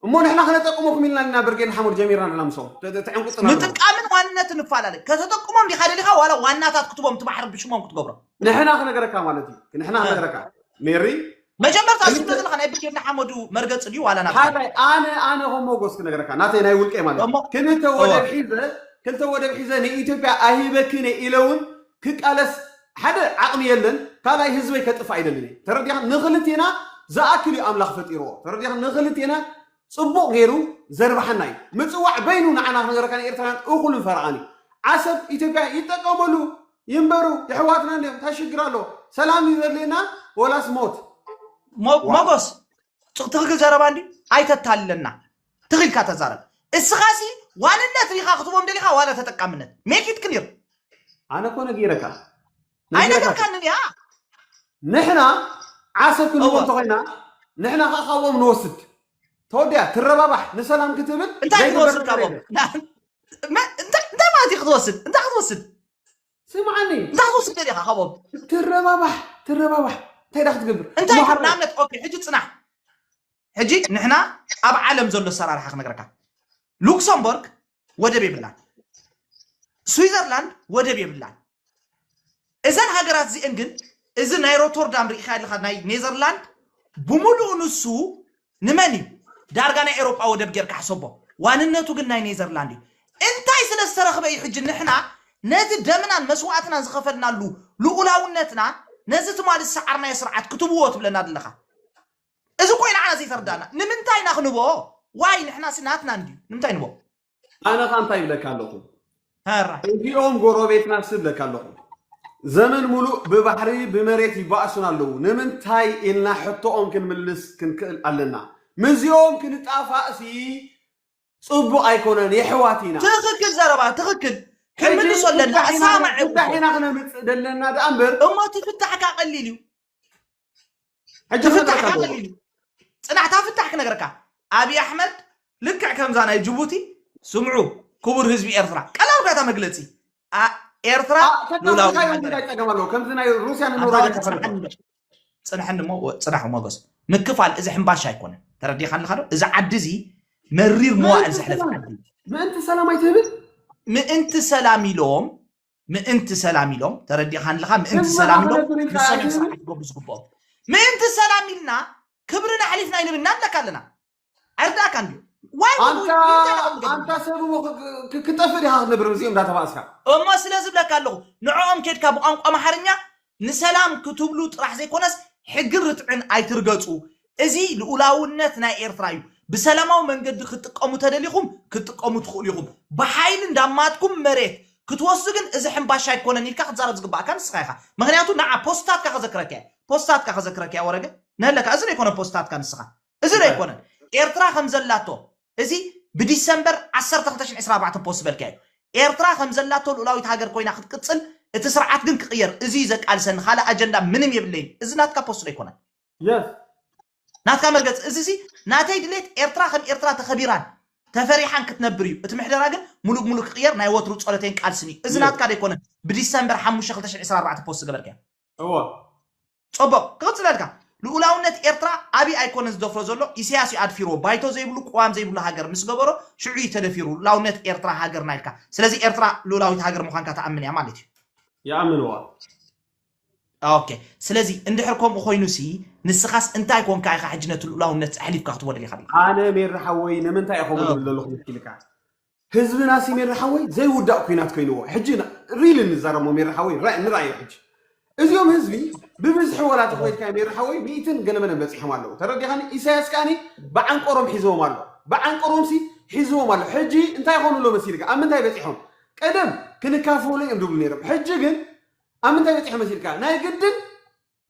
[SPEAKER 1] እሞ ንሕና
[SPEAKER 2] ክነጠቅመኩም ኢልና ኢና ብርጌድ ንሓመዱ ጀሚርና ንሕና ምስኦም ተ- ተ- ተዕንቁፅና ኣለኹም። ምጥቃምን ዋንነትን
[SPEAKER 1] ንፈላለ ከተጠቅሞም ዲኻ ደሊኻ ዋላ ዋናታት ክትቦም ትማሕር ብሽሞም ክትገብሮም ንሕና ክነገረካ
[SPEAKER 2] ማለት እዩ ንሕና እ። ክነገረካ ሜሪ መጀመርታ እዚ
[SPEAKER 1] ክልተ- ዘለካ ናይ ብርጌድ ንሓመዱ መርገፂ ድዩ ዋላ ናብታ ሓዳይ ኣነ
[SPEAKER 2] ኣነ ከም ሞጎስ ክነገረካ ናተይ ናይ ውልቀ ማለት እዩ እሞ- ክልተ ወደብ እዋ። ሒዘ ክልተ ወደብ ሒዘ ንኢትዮጵያ ኣይህበክን እየ ኢለ እውን ክቃለስ ሓደ ዓቅሚ የለን ካልኣይ ህዝበይ ከጥፍእ ኣይደልን እየ ተረዲካ ንክልቴና ዝኣክል እዩ ኣምላክ ፈጢርዎ ተረዲካ ንክልቴና ጽቡቅ ገይሩ ዘርብሓና እዩ ምጽዋዕ በይኑ ንዓና ክንገረካ ንኤርትራን እኩልን ፈረቃን እዩ ዓሰብ ኢትዮጵያ ይጠቀመሉ ይንበሩ የሕዋትና እንዲዮም እንታይ ሽግር ኣለዎ ሰላም እዩ ዘድልየና ወላስ ሞት ሞ- ዋው
[SPEAKER 1] ሞጎስ ጽ- ትክክል ዘረባ እንዲ ኣይተታልለና ትኽ ኢልካ ተዛረብ እስኻ ሲ ዋንነት ሪኻ ክትቦም ደሊኻ ዋላ ተጠቃምነት ሜክ ኢት ክሊር ኣነ እኮ
[SPEAKER 2] ነጊረካ ነጊረካ ኣይነገርካንን
[SPEAKER 1] እያ ንሕና
[SPEAKER 2] ዓሰብ ክንዎም እወ ተኾይና ንሕና ከዓ ካብኦም ንወስድ ተወዲያ ትረባባሕ ንሰላም ክትብል እንታይ ዘይግበር ክትወስድ ነገር
[SPEAKER 1] ካብኦም የለን ና- መ- እንታይ እንታይ ማለት እዩ ክትወስድ እንታይ ክትወስድ ስምዓኒ
[SPEAKER 2] እንታይ ክትወስድ ደሊኻ
[SPEAKER 1] ካብኦም ትረባባሕ
[SPEAKER 2] ትረባባሕ እንታይ ዳ ክትገብር እንታይ እሞ ትብል ሓራይ ንኣብነት
[SPEAKER 1] ኦኬ ሕጂ ፅናሕ ሕጂ ንሕና ኣብ ዓለም ዘሎ ኣሰራርሓ ክነግረካ ሉክሰምበርግ ወደብ የብላን ስዊዘርላንድ ወደብ የብላን እዘን ሃገራት እዚአን ግን እዚ ናይ ሮቶርዳም ርኢኻ ኣለኻ ናይ ኔዘርላንድ ብምሉኡ ንሱ ንመን እዩ ዳርጋ ናይ ኤሮጳ ወደብ ጌርካ ሕሰቦ ዋንነቱ ግን ናይ ኔዘርላንድ እዩ እንታይ ስለ ዝተረኽበ እዩ ሕጂ ንሕና ነቲ ደምናን መስዋእትናን ዝኸፈልናሉ ልኡላውነትና ነዚ ትማሊ ዝሰዓርናዮ ስርዓት ክትብዎ ትብለና ዘለኻ እዚ እኮ ንዓና ዘይተርዳና ንምንታይ ኢና ክንቦ ዋይ ንሕና ሲ ናትና እንድዩ ንምንታይ ንቦ ኣነ ኸ እንታይ
[SPEAKER 2] ይብለካ ኣለኹ ሀራ
[SPEAKER 1] እዚኦም ጎረቤትና
[SPEAKER 2] ሲ ይብለካ ኣለኹ ዘመን ሙሉእ ብባሕሪ ብመሬት ይባእሱና ኣለዉ ንምንታይ ኢልና ሕቶኦም ክንምልስ ክንክእል ኣለና ምስዚኦም ክንጣፋእ ሲ ጽቡቅ ኣይኮነን የሕዋት ኢና። ትኽክል ዘረባ
[SPEAKER 1] ትኽክል ክንምልሶ ኣለና ሕጂ እሳማዕ ፍታሕ ኢና- ይኹን። ፍታሕ ኢና ክነምጽእ
[SPEAKER 2] ደለና ደኣ እምበር እሞ እቲ ፍታሕ ካኣ
[SPEAKER 1] ቀሊል እዩ ሕጂ እቲ ፍታሕ ክንረካ ካኣ ኣለዎ። ቀሊል እዩ ጽናሕ እታ ፍታሕ ክነግረካ ኣብይ ኣሕመድ ልክዕ ከምዛ ናይ ጅቡቲ ስምዑ ክቡር ህዝቢ ኤርትራ ቀላል ባታ መግለጺ ኣ- ኤርትራ ሉላዊ ተካምልካዮ
[SPEAKER 2] ሃገር እንታይ እያ። ጸገም ኣለዎ ከምዚ ናይ ሩስያ ኣታ ንኖርወይ ወዲ ዘካፈልካ ጽንዓኒ ዶ? ፅናሐኒ እሞ
[SPEAKER 1] ፅናሑ ሞገስ ምክፋል እዚ ሕምባሻ ኣይኮነ ተረዲኻ ኣለካ ዶ እዚ ዓዲ እዚ መሪር መዋእል ዘሕለፈ ዓዲ ምእንቲ ሰላም
[SPEAKER 2] ኣይትህብን ምእንቲ
[SPEAKER 1] ሰላም ኢሎም ምእንቲ ሰላም ኢሎም ተረዲኻ ኣለካ ምእንቲ ሰላም ኢሎም ንሰሜን ስርዓት ክገብሩ ዝግብኦም ምእንቲ ሰላም ኢልና ክብርና ኣሕሊፍና ኢሎም እናምለካ ኣለና ኣይርዳእካ እንድዩ ዋይ ወ- ኣንታ ወ- እንታይ ኢኻ ትገብር?
[SPEAKER 2] ኣንታ ሰብ እሞ ክ- ክ- ክጠፍእ ዲኻ ክትነብር ምስኦም እንዳተባእስካ እሞ ስለ ዝብለካ
[SPEAKER 1] ኣለኹ ንዕኦም ኬድካ ብቋንቋ ኣምሓርኛ ንሰላም ክትብሉ ጥራሕ ዘይኮነስ ሕግን ርትዕን ኣይትርገፁ እዚ ልኡላውነት ናይ ኤርትራ እዩ ብሰላማዊ መንገዲ ክትጥቀሙ ተደሊኹም ክትጥቀሙ ትኽእሉ ኢኹም ብሓይሊ እንዳማትኩም መሬት ክትወስዱ ግን እዚ ሕምባሻ ኣይኮነን ኢልካ ክትዛረብ ዝግባእካ ንስኻ ኢኻ ምክንያቱ ንዓ ፖስታትካ ከዘክረካ እየ ፖስታትካ ከዘክረካ እየ ወረገ ነለካ እዚ ዘይኮነ ፖስታትካ ንስኻ እዚ ዶ ኣይኮነን ኤርትራ ከም ዘላቶ እዚ ብዲሰምበር ዓሰርተ ክልተ ሽሕ ዕስራን ኣርባዕተን ፖስት ዝበልካዮ ኤርትራ ከም ዘላቶ ልኡላዊት ሃገር ኮይና ክትቅጽል እቲ ስርዓት ግን ክቅየር እዚ እዩ ዘቃልሰኒ ካልእ ኣጀንዳ ምንም የብለይን እዚ ናትካ ፖስት ዶ ኣይኮነን የስ
[SPEAKER 2] ናትካ
[SPEAKER 1] መርገጽ እዚሲ ናተይ ድሌት ኤርትራ ከም ኤርትራ ተኸቢራን ተፈሪሓን ክትነብር እዩ እቲ ምሕደራ ግን ሙሉእ ብሙሉእ ክቅየር ናይ ወትሩ ጸሎተይን ቃልስን እዩ እዚ የስ ናትካ ዶ ኣይኮነን ብዲሰምበር ሓሙሽተ ክልተ ሽሕ ዕስራን ኣርባዕተን ፖስት ዝገበርካዮ እወ
[SPEAKER 2] ጸቡቅ
[SPEAKER 1] ክቅጽለልካ ሉኡላውነት ኤርትራ ኣብይ ኣይኮነን ዝደፍሮ ዘሎ ኢሰያስ እዩ ኣድፊርዎ ባይቶ ዘይብሉ ቁዋም ዘይብሉ ሃገር ምስ ገበሮ ሽዑ እዩ ተደፊሩ ሉኡላውነት ኤርትራ ሃገርና ኢልካ ስለዚ ኤርትራ ሉኡላዊት ሃገር ምዃንካ ትኣምን እያ ማለት እዩ
[SPEAKER 2] ይኣምንዋ
[SPEAKER 1] ኦኬ ስለዚ እንድሕር ከምኡ ኮይኑሲ ንስኻስ እንታይ ኮንካ ኢኻ ሕጂ ነቲ ሉኡላውነት ኣሕሊፍካ ክትቦ ደሊኻ ዲኻ ኣነ ሜሪ ሓወይ
[SPEAKER 2] ንምንታይ እየ ከምኡ ዝብል ዘለኹ መስኪልካ ህዝብናሲ ሜሪ ሓወይ ዘይውዳእ ኩናት ኮይንዎ ሕጂ ሪሊ ንዛረሞ ሜሪ ሓወይ ንራእዮ ሕጂ እዚኦም ህዝቢ ብብዝሒ ወላ ተኮይድካ ሜሪ ሓወይ ሚእትን ገለመለን በፂሖም ኣለዉ ተረዲኻኒ ኢሳያስ ከዓኒ ብዓንቆሮም ሒዝዎም ኣሎ ብዓንቆሮምሲ ሒዝዎም ኣሎ ሕጂ እንታይ ኮኑ ኣሎ መሲልካ ኣብ ምንታይ በፂሖም ቀደም ክንካፈሉ እዮም ድብሉ ነይሮም ሕጂ ግን ኣብ ምንታይ በፂሖም መሲልካ ናይ ግድን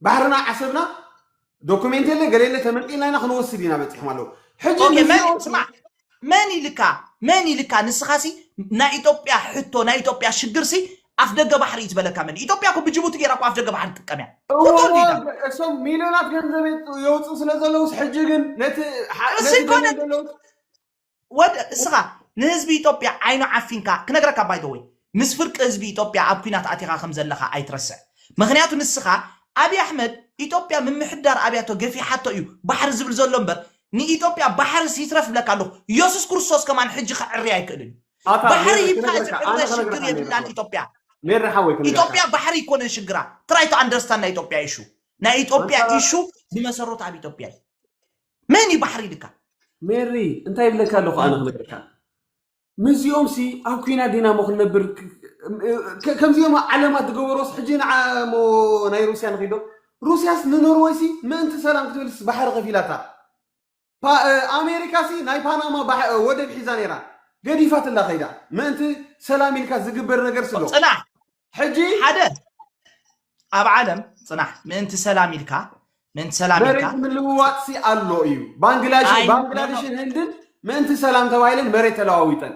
[SPEAKER 2] ባሕርና ዓሰብና ዶኩሜንት የለ ገለ የለ ተመልጢልና ኢና ክንወስድ ኢና በፂሖም ኣለዉ ሕጂ ኦኬ መን ንዚኦ
[SPEAKER 1] ስማዕ መን ኢልካ መን ኢልካ ንስኻ ሲ ናይ ኢትዮጵያ ሕቶ ናይ ኢትዮጵያ ሽግር ሲ ኣፍ ደገ ባሕሪ እዩ ዝበለካ መን እዩ? ኢትዮጵያ እኮ ብጅቡቲ ጌራ እኮ ኣፍ ደገ ባሕሪ ትጥቀም እያ እወ እወ ቁጡር ዲዳ
[SPEAKER 2] እሶም ሚልዮናት ገንዘብ የውፅ- የውፅኡ ስለ ዘለውስ ሕጂ ግን ነቲ ሓ- ነቲ እሱይ ኮነ ደልዮም ዘለውስ
[SPEAKER 1] ወድ እስኻ ንህዝቢ ኢትዮጵያ ዓይኑ ዓፊንካ ክነግረካ ባይተወይ ምስ ፍርቂ ህዝቢ ኢትዮጵያ ኣብ ኩናት ኣቲኻ ከም ዘለኻ ኣይትረስዕ ምኽንያቱ ንስኻ ኣብይ ኣሕመድ ኢትዮጵያ ምምሕዳር ኣብያቶ ገፊሓቶ እዩ ባሕሪ ዝብል ዘሎ እምበር ንኢትዮጵያ ባሕርስ ይትረፍ ይብለካ ኣለኹ የሱስ ክርስቶስ ከማን ሕጂ ክዕሪ ኣይክእልን እዩ ኣታ ባሕሪ ሜሪ ይብቃ እዚ ክነግረካ ኣነ ዕረ ሽግር ክነግረካ ሜሪ የብላን ሓወይ ኢትዮጵያ ሜሪ ሓወይ ክነግረካ
[SPEAKER 2] ኢትዮጵያ ባሕሪ ኣይኮነን
[SPEAKER 1] ሽግራ ትራይ ቱ ኣንደርስታንድ ናይ ኢትዮጵያ ኢሹ ናይ ኢትዮጵያ ማንሳራ ኢሹ ብመሰረቱ ኣብ ኢትዮጵያ እዩ መን እዩ ባሕሪ ኢልካ ሜሪ
[SPEAKER 2] እንታይ ይብለካ ኣለኹ ኣነ ክነግረካ ምስዚኦም ሲ ኣብ ኩና ዲና ሞ ክንነብር ከምዚኦም ዓለማት ዝገበሮስ ሕጂ ንዓ ሞ ናይ ሩስያ ንኺዶ ሩስያስ ንኖርወይ ሲ ምእንቲ ሰላም ክትብልስ ባሕሪ ከፊላታ ኣሜሪካ ሲ ናይ ፓናማ ወደብ ሒዛ ነይራ ገዲፋትላ ከይዳ ምእንቲ ሰላም ኢልካ ዝግበር ነገር ስሎ ፅናሕ ሕጂ
[SPEAKER 1] ሓደ ኣብ ዓለም ፅናሕ ምእንቲ ሰላም ኢልካ ምእንቲ ሰላም ኢልካ መሬት ምልውዋጥ ሲ
[SPEAKER 2] ኣሎ እዩ ባንግላሽ- ኣይ፣ ባንግላዴሽን ህንድን ምእንቲ ሰላም ተባሂለን መሬት ተለዋዊጠን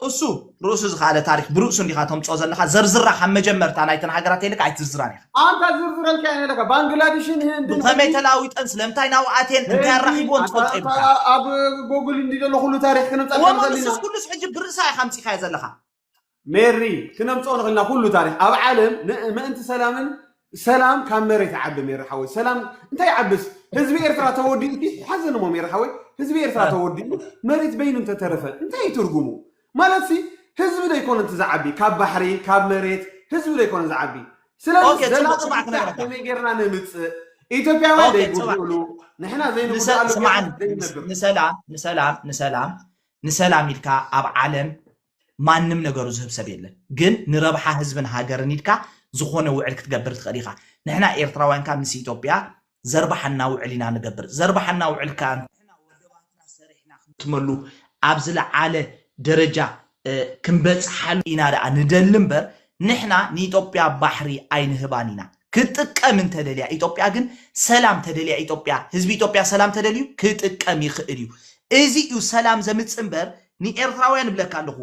[SPEAKER 2] እሱ
[SPEAKER 1] ርእሱ ዝኸኣለ ታሪክ ብርእሱ እንዲኻ ተምፅኦ ዘለካ ዘርዝራ ካብ መጀመርታ ናይተን ሃገራት የልካ ኣይትዝራን ኢኻ ኣንታ ዝርዝረልካ
[SPEAKER 2] እየ ዘለካ ባንግላዴሽን ህንድን ብኸመይ ተላዊጠን
[SPEAKER 1] ስለምንታይ ናብኡ ኣትየን እንታይ ኣራኺብዎን ትፈልጦ ይብልካ ኣብ
[SPEAKER 2] ጎግል እንዲ ዘሎ ኩሉ ታሪክ ክንብፀ እወ ክንኽእል ኢና ሱስ ኩሉስ
[SPEAKER 1] ሕጂ ብርእሳ ኢኻ ኣምፂኻዮ ዘለኻ ሜሪ
[SPEAKER 2] ክነምጽኦ ንኽእል ኢና ኩሉ ታሪኽ ኣብ ዓለም ምእንቲ ሰላምን ሰላም ካብ መሬት ይዓቢ ሜሪ ሓወይ ሰላም እንታይ ይዓብስ ህዝቢ ኤርትራ ተወዲኡ እቲ ሓዘን እሞ ሜሪ ሓወይ ህዝቢ ኤርትራ ተወዲኡ መሬት በይኑ እንተተረፈ እንታይ እዩ ትርጉሙ ማለት ሲ ህዝቢ ዶ ኣይኮነ እቲ ዝዓቢ ካብ ባሕሪ ካብ መሬት ህዝቢ ዶ ኣይኮነ ዝዓቢ ስለዚ ኦኬ፣ ጽቡቕ፣ ዘላቂ ጽቡቕ ፍታሕ
[SPEAKER 1] ክነግረካ። ከመይ ጌርና
[SPEAKER 2] ነምጽእ ኢትዮጵያውያን ኦኬ፣ ጽባሕ። ዘይጉድእሉ ንሕና ንሰ- ዘይንጉድኣሉ ጌርና ስምዓኒ ዘይንነብር ንሰላም ንሰላም
[SPEAKER 1] ንሰላም ንሰላም ኢልካ ኣብ ዓለም ማንም ነገሩ ዝህብ ሰብ የለን ግን ንረብሓ ህዝብን ሃገርን ኢልካ ዝኾነ ውዕል ክትገብር ትኽእል ኢኻ ንሕና ኤርትራውያን ከኣ ምስ ኢትዮጵያ ዘርባሓና ውዕል ኢና ንገብር ዘርባሓና ውዕል ከኣ ንሕና ወደባትና ሰሪሕና ክንጥመሉ ኣብ ዝለዓለ ደረጃ ክንበጽሓሉ ኢና ደኣ ንደሊ እምበር ንሕና ንኢትዮጵያ ባሕሪ ኣይንህባን ኢና ክትጥቀም እንተደልያ ኢትዮጵያ ግን ሰላም ተደልያ ኢትዮጵያ ህዝቢ ኢትዮጵያ ሰላም ተደልዩ ክጥቀም ይኽእል እዩ እዚ እዩ ሰላም ዘምጽእ እምበር ንኤርትራውያን እብለካ ኣለኹ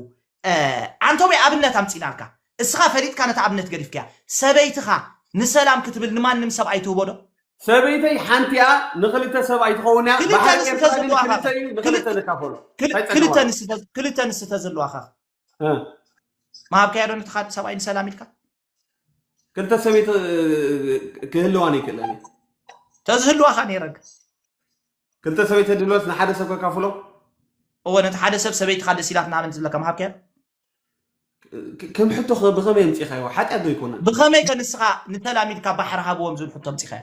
[SPEAKER 1] ዓንቶብያ ኣብነት ኣምጺእናልካ እስኻ ፈሊጥካ ነታ ኣብነት ገዲፍካያ ሰበይትኻ ንሰላም ክትብል ንማንም ሰብኣይ ትህቦ ዶ? ሰበይተይ
[SPEAKER 2] ሓንቲ እያ ንኽልተ ሰብኣይ ትኸውን እያ ክልተ ባሕሪ ንስተ ኤርትራ ግን ዘለዋኻ ክልተ እዩ ንኽልተ ክል- ንካፈሎ
[SPEAKER 1] ክል- እንታይ ጸገም ክልተ ኣለዎ ንስተ ክልተ ንስተ ዘለዋኻ እ ምሃብካያ ዶ ነቲ ካልእ ሰብኣይ ንሰላም ኢልካ?
[SPEAKER 2] ክልተ ሰበይቲ ክህልዋን ይክእለን እዩ ተዝህልዋ
[SPEAKER 1] ከ ነይረግ
[SPEAKER 2] ክልተ ሰበይቲ ድልወስ ንሓደ ሰብ ከካፍሎ እወ ነቲ
[SPEAKER 1] ሓደ ሰብ ሰበይቲ ካደ ሲላት ናበን ዝብለካ ምሃብከያ
[SPEAKER 2] ከም ሕቶ ብኸመይ ኣምፂኻዮ ሓጢኣት ዶ ኣይኮነን ብኸመይ
[SPEAKER 1] ከ ንስኻ ንተላሚድካ
[SPEAKER 2] ባሕሪ
[SPEAKER 1] ሃብዎም ዝብል ሕቶ
[SPEAKER 2] ኣምፂኻዮ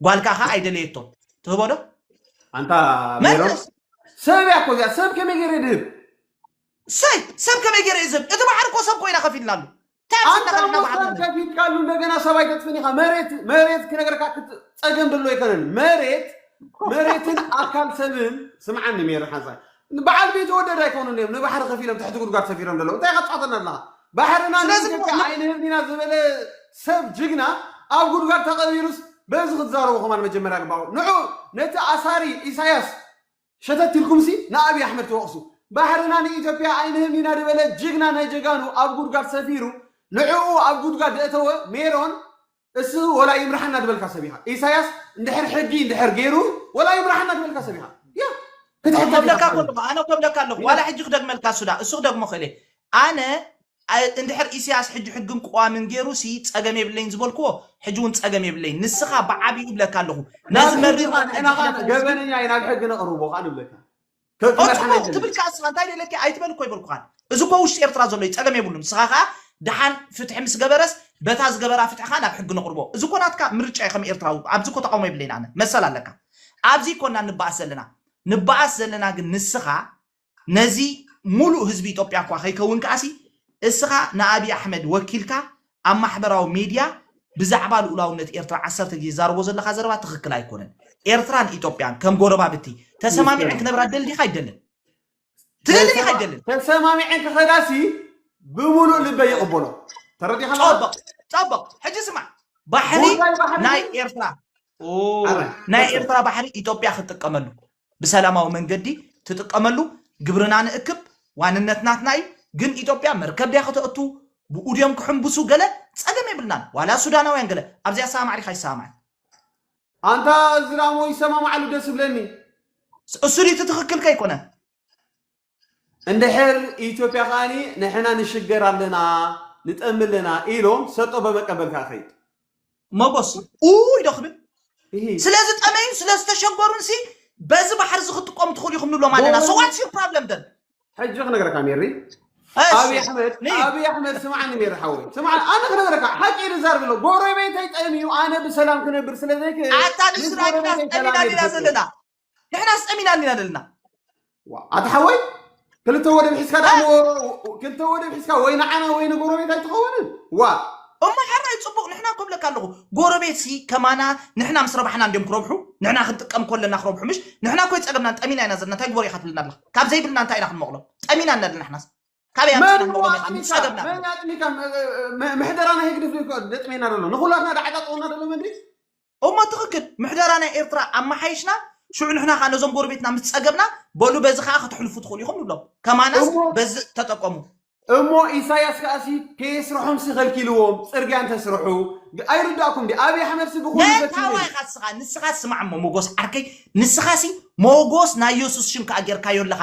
[SPEAKER 1] ጓልካ ከ ኣይደለየቶ ትህቦ ዶ ኣንታ
[SPEAKER 2] ሜሮን መልስ ሰብ እያ እኮ እዚኣ ሰብ ከመይ ገይረ ድህብ ሰይ
[SPEAKER 1] ሰብ ከመይ ገይረ እዩ ዝህብ እቲ ባሕሪ እኮ ሰብ ኮይና ከፊልና ኣሎ እንታይ ኣብዚ ኣንታ እናኸድና
[SPEAKER 2] ባሕሪ ሞተር ንብል ከፊትካሉ እንደገና ሰብ ኣይተጥፍን ኢኻ መሬት መሬት ክነገርካ ክት- ፀገም ደሎ ኣይኮነን መሬት መሬትን ኣካል ሰብን ስምዓኒ ሜሮ ሓንሳእ ንበዓል ቤት ወደድ ኣይኮኑን እዮም ንባሕሪ ከፊሎም ትሕቲ ጉድጓድ ሰፊሮም ዘለዉ እንታይ ኢኻ ትጻወተና ኣለኻ ባሕርና ስለዚ ንኢትዮጵያ ን- ኣይንህብን ኢና ዝበለ ሰብ ጅግና ኣብ ጉድጓድ ተቐቢሩስ በዚ ክትዛረቡ ከማን መጀመርያ ግባኡ ንዑ ነቲ ኣሳሪ ኢሳያስ ሸተት ኢልኩምሲ ንኣብይ ኣሕመድ ትወቕሱ ባሕርና ንኢትዮጵያ ኣይንህብን ኢና ዝበለ ጅግና ናይ ጀጋኑ ኣብ ጉድጓድ ሰፊሩ ንዕኡ ኣብ ጉድጓድ ደእተወ ሜሮን እሱ ወላ ይምርሓና ድበልካ ሰብ ኢኻ ኢሳያስ እንድሕር ሕጊ እንድሕር ገይሩ ወላ ይምርሓና ድበልካ ሰብ ኢኻ ያ ክትሕገ ዲኻ ከብለካ ብሓይሊ።
[SPEAKER 1] ከለኹ ኣነ ከብለካ ኣለኹ ዋላ ሕጂ ክደግመልካ ሱዳ እሱ ክደግሞ ክእል እየ ኣነ ኣ- እንድሕር ኢሳያስ ሕጂ ሕግን ቅዋምን ገይሩ ሲ ጸገም የብለይን ዝበልክዎ ሕጂ እውን ጸገም የብለይን ንስኻ ብዓቢኡ እብለካ ኣለኹ ነዚ ናብ ሕጊ መሪር ኻን ንሕና ኻን
[SPEAKER 2] ገበነኛ እዩ ናብ ሕጊ ነቕርቦ ኻን እብለካ ኦጽብቕ
[SPEAKER 1] ትብል ከኣ ንስኻ እንታይ ደለኪ ኣይትበል እኮ ኣይበልኩኻን እዚ እኮ ውሽጢ ኤርትራ ዘሎ እዩ ጸገም የብሉን ንስኻ ከኣ ደሓን ፍትሒ ምስ ገበረስ በታ ዝገበራ ፍትሒ ከኣ ናብ ሕጊ ነቕርቦ እዚ እኮ ናትካ ምርጫ እዩ ከም ኤርትራዊ ኣብዚ እኮ ተቓውሞ የብለይን ኣነ መሰል ኣለካ ኣብዚ እኮና ንበኣስ ዘለና ንበኣስ ዘለና ግን ንስኻ ነዚ ሙሉእ ህዝቢ ኢትዮጵያ እኳ ከይከውን ከኣሲ እስኻ ንኣብይ ኣሕመድ ወኪልካ ኣብ ማሕበራዊ ሜድያ ብዛዕባ ልኡላውነት ኤርትራ ዓሰርተ ግዜ ትዛረቦ ዘለኻ ዘረባ ትኽክል ኣይኮነን። ኤርትራን ኢትዮጵያን ከም ጎረባብቲ ተሰማሚዐን ክነብራ ትደሊ ዲኻ ኣይደልን? ትደሊ ዲኻ ኣይደልን? ተሰማሚዐን
[SPEAKER 2] ክኸዳሲ ብምሉእ ልበይ ይቕበሎ። ተረዲኻ ኣለኻ? ጸብቕ ጸብቕ። ሕጂ
[SPEAKER 1] ስማዕ፣ ባሕሪ ጉዳይ ባሕሪ ናይ ግን ኤርትራ ኦ፣ ኣረ፣ ናይ ቀጽል። ኤርትራ ባሕሪ ኢትዮጵያ ክትጥቀመሉ ብሰላማዊ መንገዲ ትጥቀመሉ ግብርና ንእክብ ዋንነት ናትና እዩ ግን ኢትዮጵያ መርከብ ድያ ከተእቱ ብኡ ድዮም ክሕምብሱ ገለ ጸገም የብልናን ዋላ ሱዳናውያን ገለ ኣብዚኣ ሰማማዕ ዲኻ ይሰማማዕ
[SPEAKER 2] ኣንታ እዝራሞ ይሰማማዓሉ ደስ ዝብለኒ። እሱ ድዩ
[SPEAKER 1] እቲ ትኽክል ከይኮነ?
[SPEAKER 2] እንድሕር ኢትዮጵያ ከኣ ንሕና ንሽገር ኣለና ንጠሚ ኣለና ኢሎም ሰጦ በመቀበል ከኣ ከይድ መጎስ
[SPEAKER 1] ኡይ ዶ ክብል እሂ ስለ ዝጠመዩን ስለ ዝተሸገሩን ሲ በዚ ባሕሪ እዚ ክትጥቀሙ ትኽእሉ ኢኹም ንብሎም ኣለና ሶ ዋትስ ዩር ፕሮብለም ደን ሕጂ ክነግረካ
[SPEAKER 2] ሜሪ እሺ ኣብይ ኣሕመድ ንይ ኣብይ ኣሕመድ ስምዓኒ ሜሪ ሓወይ ስምዓኒ ኣነ ክነግረካ ሓቂ ኢዩ ዝዛርብ ኣሎ ጎረቤተይ ጠምዩ ኣነ ብሰላም ክነብር ስለ ዘይክእል ኣታ ምስ ንስራቂናስ ጎረቤተይ
[SPEAKER 1] ጠሚና ሰላመይ ዲና ክፈጥር እየ ዘለና ንሕና ስጠሚና እንዲና ዘለና ኣታ
[SPEAKER 2] ሓወይ ክልተ ወደብ ሒዝካ ደኣ ክልተ ወደብ ሒዝካ ወይ ንዓና ወይ ንጎረቤት ኣይትኸውንን ዋ እሞ
[SPEAKER 1] ሕራይ ፅቡቕ ንሕና እኮ ብለካ ኣለኹ ጎረቤት ሲ ከማና ንሕና ምስ ረባሕና እንዲዮም ክረብሑ ንሕና ክንጥቀም ኮለና ክረብሑ ምሽ ንሕና እኮ ይፀገምናን ጠሚና ኢና ዘለና እንታይ ግበሩ ኢኻ ትብልና ኣለኻ ካብ ዘይብልና እንታይ ኢና ክንመቕሎም ጠሚና ኣለና ንሕናስ ካበይ ኣምፂእና ንቕወም ኢኻ ንፀገምና መን
[SPEAKER 2] ኣጥሚካ ምሕደራ ናይ ህግድፍ ደጥሜና ደሎ ንኩላትና ዳዓጣጠወና ደሎ መድሪ እሞ ትኽክል
[SPEAKER 1] ምሕደራ ናይ ኤርትራ ኣመሓይሽና ሽዑ ንሕና ከዓ ነዞም ጎረቤትና ምስ ፀገብና በሉ በዚ ከዓ ከተሕልፉ ትኽእሉ ኢኹም ንብሎም ከማናስ እሞ- በዚ ተጠቀሙ እሞ
[SPEAKER 2] ኢሳያስ ከዓ ሲ ከየስርሖም ሲ ከልኪልዎም ፅርግያ እንተስርሑ ግ- ኣይርዳእኩም ዲ ኣብይ ኣሕመድ ሲ ብኩሉ ፈትኑ መታዋ እዩ። ኢኻ ንስኻ
[SPEAKER 1] ንስኻ ስማዕ እሞ ሞጎስ ዓርከይ ንስኻ ሲ ሞጎስ ናይ የሱስ ሽም ከዓ ጌርካዮ ኣለኻ